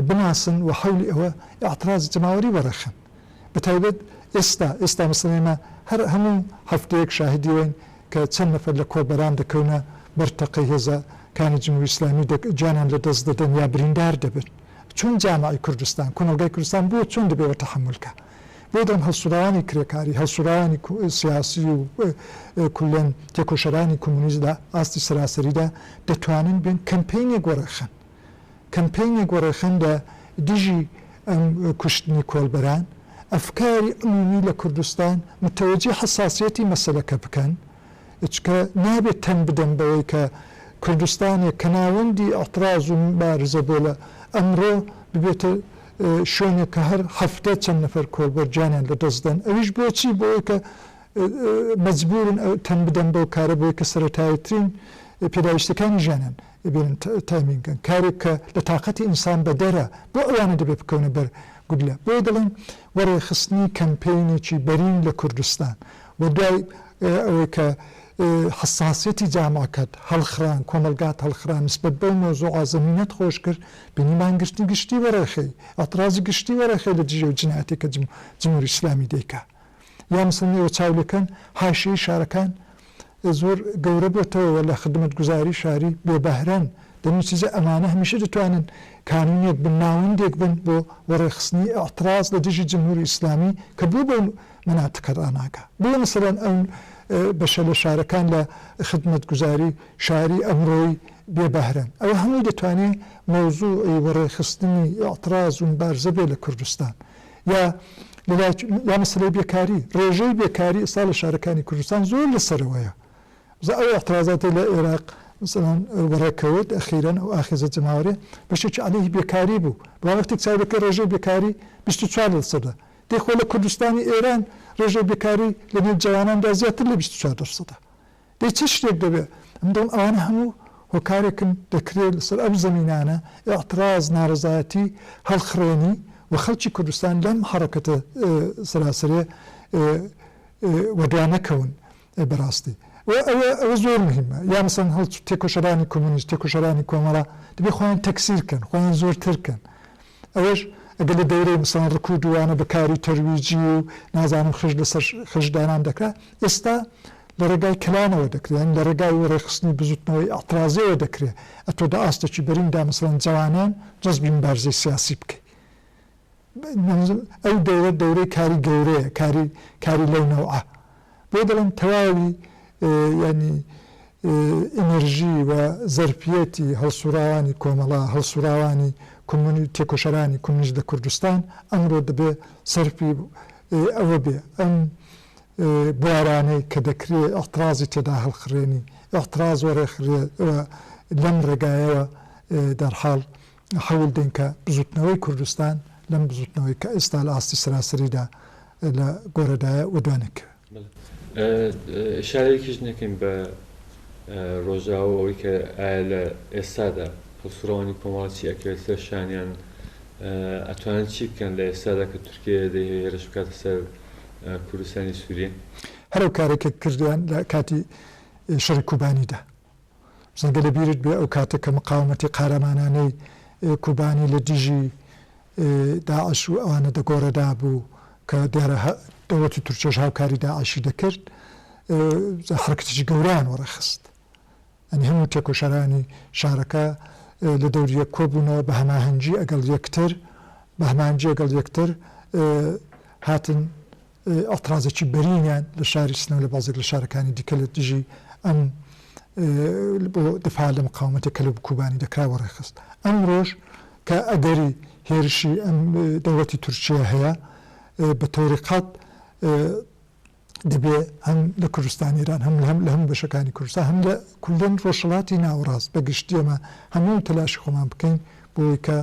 Speaker 1: بناسن و حەولی ئەوە ئیعترازی جەماوەری وەڕێخەن. بە تایبەت ئێستا، ئێستا مەسەلەن ئێمە هەر هەموو هەفتەیەک شاهیدی ئەوەین کە چەند نەفەر لە کۆڵبەران دەکەونە بەر تەقەی هێزە کانی جمهوری ئیسلامی و گیانیان لە دەست دەدەن یا بریندار دەبن. چۆن جامعی کوردستان، کۆمەڵگای کوردستان بۆ چۆن دەبێ ئەوە تەحەمول کا؟ بۆ دەڵێم هەڵسوڕاوانی کرێکاری، هەڵسوڕاوانی سیاسی و کوللەن تێکۆشەرانی کۆمۆنیست لە ئاستی سەراسەریدا دەتوانن بێن کەمپەینێک وەڕێ خەن. کەمپەینێک وەڕێخەن لە دژی ئەم کوشتنی کۆڵبەران، ئەفکاری عمومی لە کوردستان متەوەجی حەساسیەتی مەسەلەکە بکەن، چکە نابێت تەن بدەن بەوەی کە کوردستانێک کە ناوەندی ئیعتراز و موبارزە بۆ لە ئەمڕۆ ببێتە شوێنێک کە هەر هەفتە چەند نەفەر کۆڵبەر گیانیان لە دەست دەن ئەویش بۆچی بۆوەی کە مەجبورن تەن بدەن بەو کارە بۆی کە سەرەتاییترین پێداویستیەکانی ژیانن ببینن تایمینگن کارێک کە لە تاقەتی ئینسان بەدەرە بۆ ئەوانە دەبێت بکەونە بەر گوگلە بۆیە دەڵێن وە ڕێکخستنی کەمپەینێکی بەرین لە کوردستان وە دوای ئەوەی کە حساسیەتی جاماکەت هەڵخران کۆمەلگات هەڵخران نسبەت بەو مەوزوعە زەمینەت خۆش کرد بینی مانگرتنی گشتی وەڕێخەی ئەترازی گشتی وەڕێخەی لە دژی ئەو جنایەتێک کە جمهوری ئیسلامی دەیکا یا مەسەلەن ئێوە چاو لێکەن حاشیەی شارەکان زۆر گەورە بۆتەوە و لە خدمەتگوزاری شاری بێ بەهرەن دەنوچیجا ئەمانە هەمیشە دەتوانن کانونێک بن ناوەندێک بن بۆ وەڕێخستنی ئیعتڕاز لە دژی جمهوری ئیسلامی کە بۆ بەو مەناتقە ڕاناگا بۆیە مەسەلەن ئەو بەشە لە شارەکان لە خدمەتگوزاری شاری ئەمڕۆی بێ بەهرەن ئەوە هەمووی دەتوانێ مەوزوعی وەڕێخستنی ئیعتڕاز و مبارزە بێ لە کوردستان یا یا مەسلەی بێکاری ڕێژەی بێکاری ئستا لە شارەکانی کوردستان زۆر لە سەرەوەیە بزە ئەو احترازاتی لە عێراق مثلەن بەڕێکەوت ئەخیرەن ئەو ئاخێزە جەماوەێ بەشێکی عليهەی بێکاری بوو بە وەختی چاودەکە ڕێژەی بێکاری 24 لە سەدە دەخۆ لە کوردستانی ئێران ڕێژەی بێکاری لە نێو جواناندا زیاتر لە 24 سەدە دەی چ شتێک دەبێ؟ من دڵم ئەوانە هەموو هۆکارێکن دەکرێ لەسەر ئەو زەمینانە ئیعتراز، نارەزایەتی هەڵخڕێنی و خەڵکی کوردستان لەم حەڕەکەتە سەراسەرێ وەدوا نەکەون بەڕاستی و ئەوە ئەوە زۆر مهیمە یا مەسەن هەڵ تێکۆشەرانی کۆمۆنیست، تێکۆشەرانی کۆمەڵە دەبێ خۆیان تەکسیر کەن، خۆیان زۆرتر کەن. ئەوەش ئەگەر لە دەورەی مەسەڵەن ڕکوو دووانە بە کاری تەرویجی و نازانم خش لەسەر خش دانان دەکرا ئێستا لە ڕێگای کلانەوە دەکرێ یانی لە ڕێگای وەڕێخستنی بزووتنەوەی ئەترازیەوە دەکرێ ئەتۆ دە ئاستێکی بەرین دا مەسەڵەن جەوانان جەزبی مبارزەی سیاسی بکەی ئەو دەورە دەورەی کاری گەورەیە کاری کاری لەو نەوعە بۆیە دەڵێم تەواوی یانی ئینرژی و زەرفیەتی هەڵسوڕاوانی کۆمەڵە، هەڵسوڕاوانی کۆمۆنی تێکۆشەرانی کۆمۆنیست لە کوردستان ئەمڕۆ دەبێ سەرفی ئەوە بێ ئەم بوارانەی کە دەکرێ ئیعتڕازی تێدا هەڵخڕێنی ئیعتڕاز و ڕێخرێ و لەم ڕێگایەوە دەرحاڵ هەوڵ دەین کە بزووتنەوەی کوردستان لەم بزووتنەوەی کە ئێستا لە ئاستی سەراسەریدا لە گۆرەدایە و دوانەکەوێ. ئیشارەیەکیش نەکەین بە ڕۆژاوا و ئەوەی کە ئایا لە ئێستادا هەڵسوڕاوانی کۆمەڵە چی ئەکەوێت سەر شانیان؟ ئەتوانن چی بکەن لە ئێستادا کە تورکیە دەیهەوێ هێرش بکاتە سەر کوردستانی سووریە؟ هەر ئەو کارەی کە کردیان لە کاتی شەڕی کوبانیدا. بزن گەر لە بیرت بێ ئەو کاتە کە مقاومەتی قارەمانانەی کوبانی لە دژی داعش و ئەوانە دەگۆڕێدا بوو کە دیارە دەوڵەتی تورکیەش هاوکاری داعشی دەکرد جا حەرەکەتێکی گەورەیان وەڕێخست ئەنی هەموو تێکۆشەرانی شارەکە لە دەوریە کۆبوونەوە بە هەماهەنگی ئەگەڵ یەکتر بە هەمانجی ئەگەڵ یەکتر هاتن ئەترازێکی بەرینیان لە شاری سنە و لە بازێک لە شارەکانی دیکە لە دژی ئەم بۆ دفاع لە مقاومەتە کەلو بکوبانی دەکرا وەڕێخست. ئەمرۆش کە ئەگەری هێرشی ئەم دەوڵەتی تورکییە هەیە بە تۆری قەت دەبێ هەم لە کوردستانی ئێران هەم هەم لە هەموو بەشەکانی کوردستان هەم لە کوردن ڕۆژهەڵاتی ناوەڕاست بە گشتی ئێمە هەموو تەلاشی خۆمان بکەین بۆ ئەوەی کە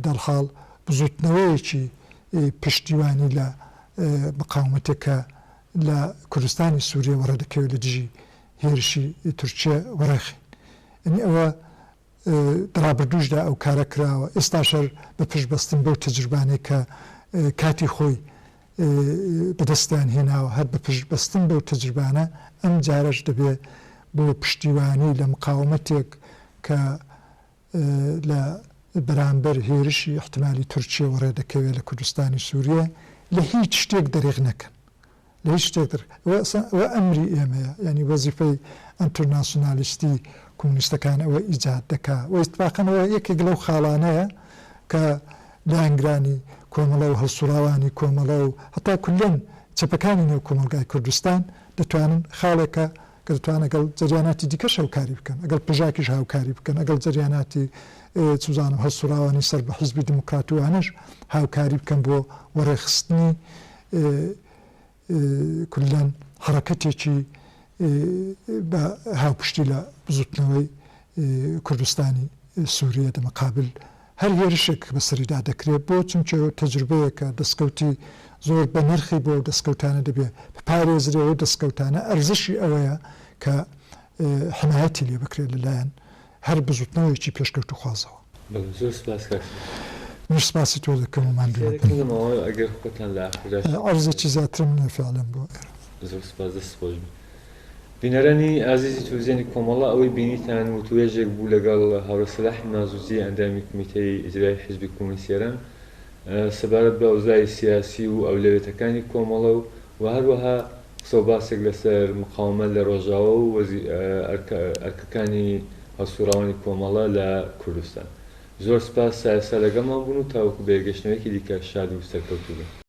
Speaker 1: دەرحاڵ بزووتنەوەیەکی پشتیوانی لە مقاومەتێک کە لە کوردستانی سووریە وەڕێ دەکەوێت لە دژی هێرشی تورکیە وەڕێخەین. یەنی ئەوە دە ڕابردووشدا ئەو کارە کراوە، ئێستاشەر بە پشت بەستن بەو تەجربانەی کە کاتی خۆی بە دەستیان هێناوە، هەر بە پشت بەستن بەو تەجربانە ئەم جارەش دەبێ بۆ پشتیوانی لە مقاومەتێک کە لە بەرامبەر هێرشی ئیحتمالی تورکییەوە ڕێدەکەوێت لە کوردستانی سووریە، لە هیچ شتێک دەرێغ نەکەن. لە هیچ شتێک دەر. ئەوە ئەسڵەن ئەوە ئەمری ئێمەیە. یانی وەزیفەی ئەنترناسیونالیستی کۆمۆنیستەکان ئەوە ئیجاد دەکا و ئیتفاقەن ئەوە یەکێک لەو خاڵانەیە کە لایەنگرانی کۆمەڵە و هەڵسووڕاوانی کۆمەڵە و هەتا کوللەن چەپەکانی نێو کۆمەڵگای کوردستان دەتوانن خاڵێکە کە دەتوانن لەگەڵ جەریاناتی دیکەش هەوکاری بکەن، لەگەڵ پژاکیش هاوکاری بکەن، لەگەڵ جەریاناتی چ بزانم هەڵسوڕاوانی سەر بە حیزبی دیموکرات و وانەش هاوکاری بکەن بۆ وەڕێخستنی کوللەن حەڕەکەتێکی بە هاوپشتی لە بزووتنەوەی کوردستانی سووریە دە مەقابل هەر هێرشێک بەسەریدا دەکرێت بۆ چونکە تەجروبەیەکە دەستکەوتی زۆر بەنرخی بۆ ئەو دەستکەوتانە دەبێت بپارێزرێ و ئەو دەستکەوتانە ئەرزشی ئەوەیە کە حمایەتی لێ بکرێت لەلایەن هەر بزوتنەوەیەکی پێشکەوتوخوازەوە. بەڵێ زۆر سوپاس کاک سروش. منیش سوپاسی تۆ دەکەم و ماندوو مەبە. پرسیارێکم لەماوە ئەگەر خۆتان لە ئاخرداش. عەرزێکی زیاترم نیە فیعلەن بۆ ئێرە. زۆر سوپاس دەست خۆش بی. بینەرانی ئازیزی تلویزیۆنی کۆمەڵە ئەوەی بینیتان وتوێژێک بوو لەگەڵ هاوڕێ سەلاح نازوزی ئەندامی کومیتەی ئیجرایی حیزبی کۆمۆنیستی ئێران سەبارەت بە ئەوزای سیاسی و ئەولەوێتەکانی کۆمەڵە و وە هەروەها قسە و باسێک لەسەر مقاومەت لە ڕۆژاوا و ئەرکەکانی هەڵسوڕاوانی کۆمەڵە لە کوردستان زۆر سپاس سایەسا لەگەڵمان بوون و تاوەکو بەیەکگەشتنەوەیەکی دیکە شاد و سەرکەوتوو بن.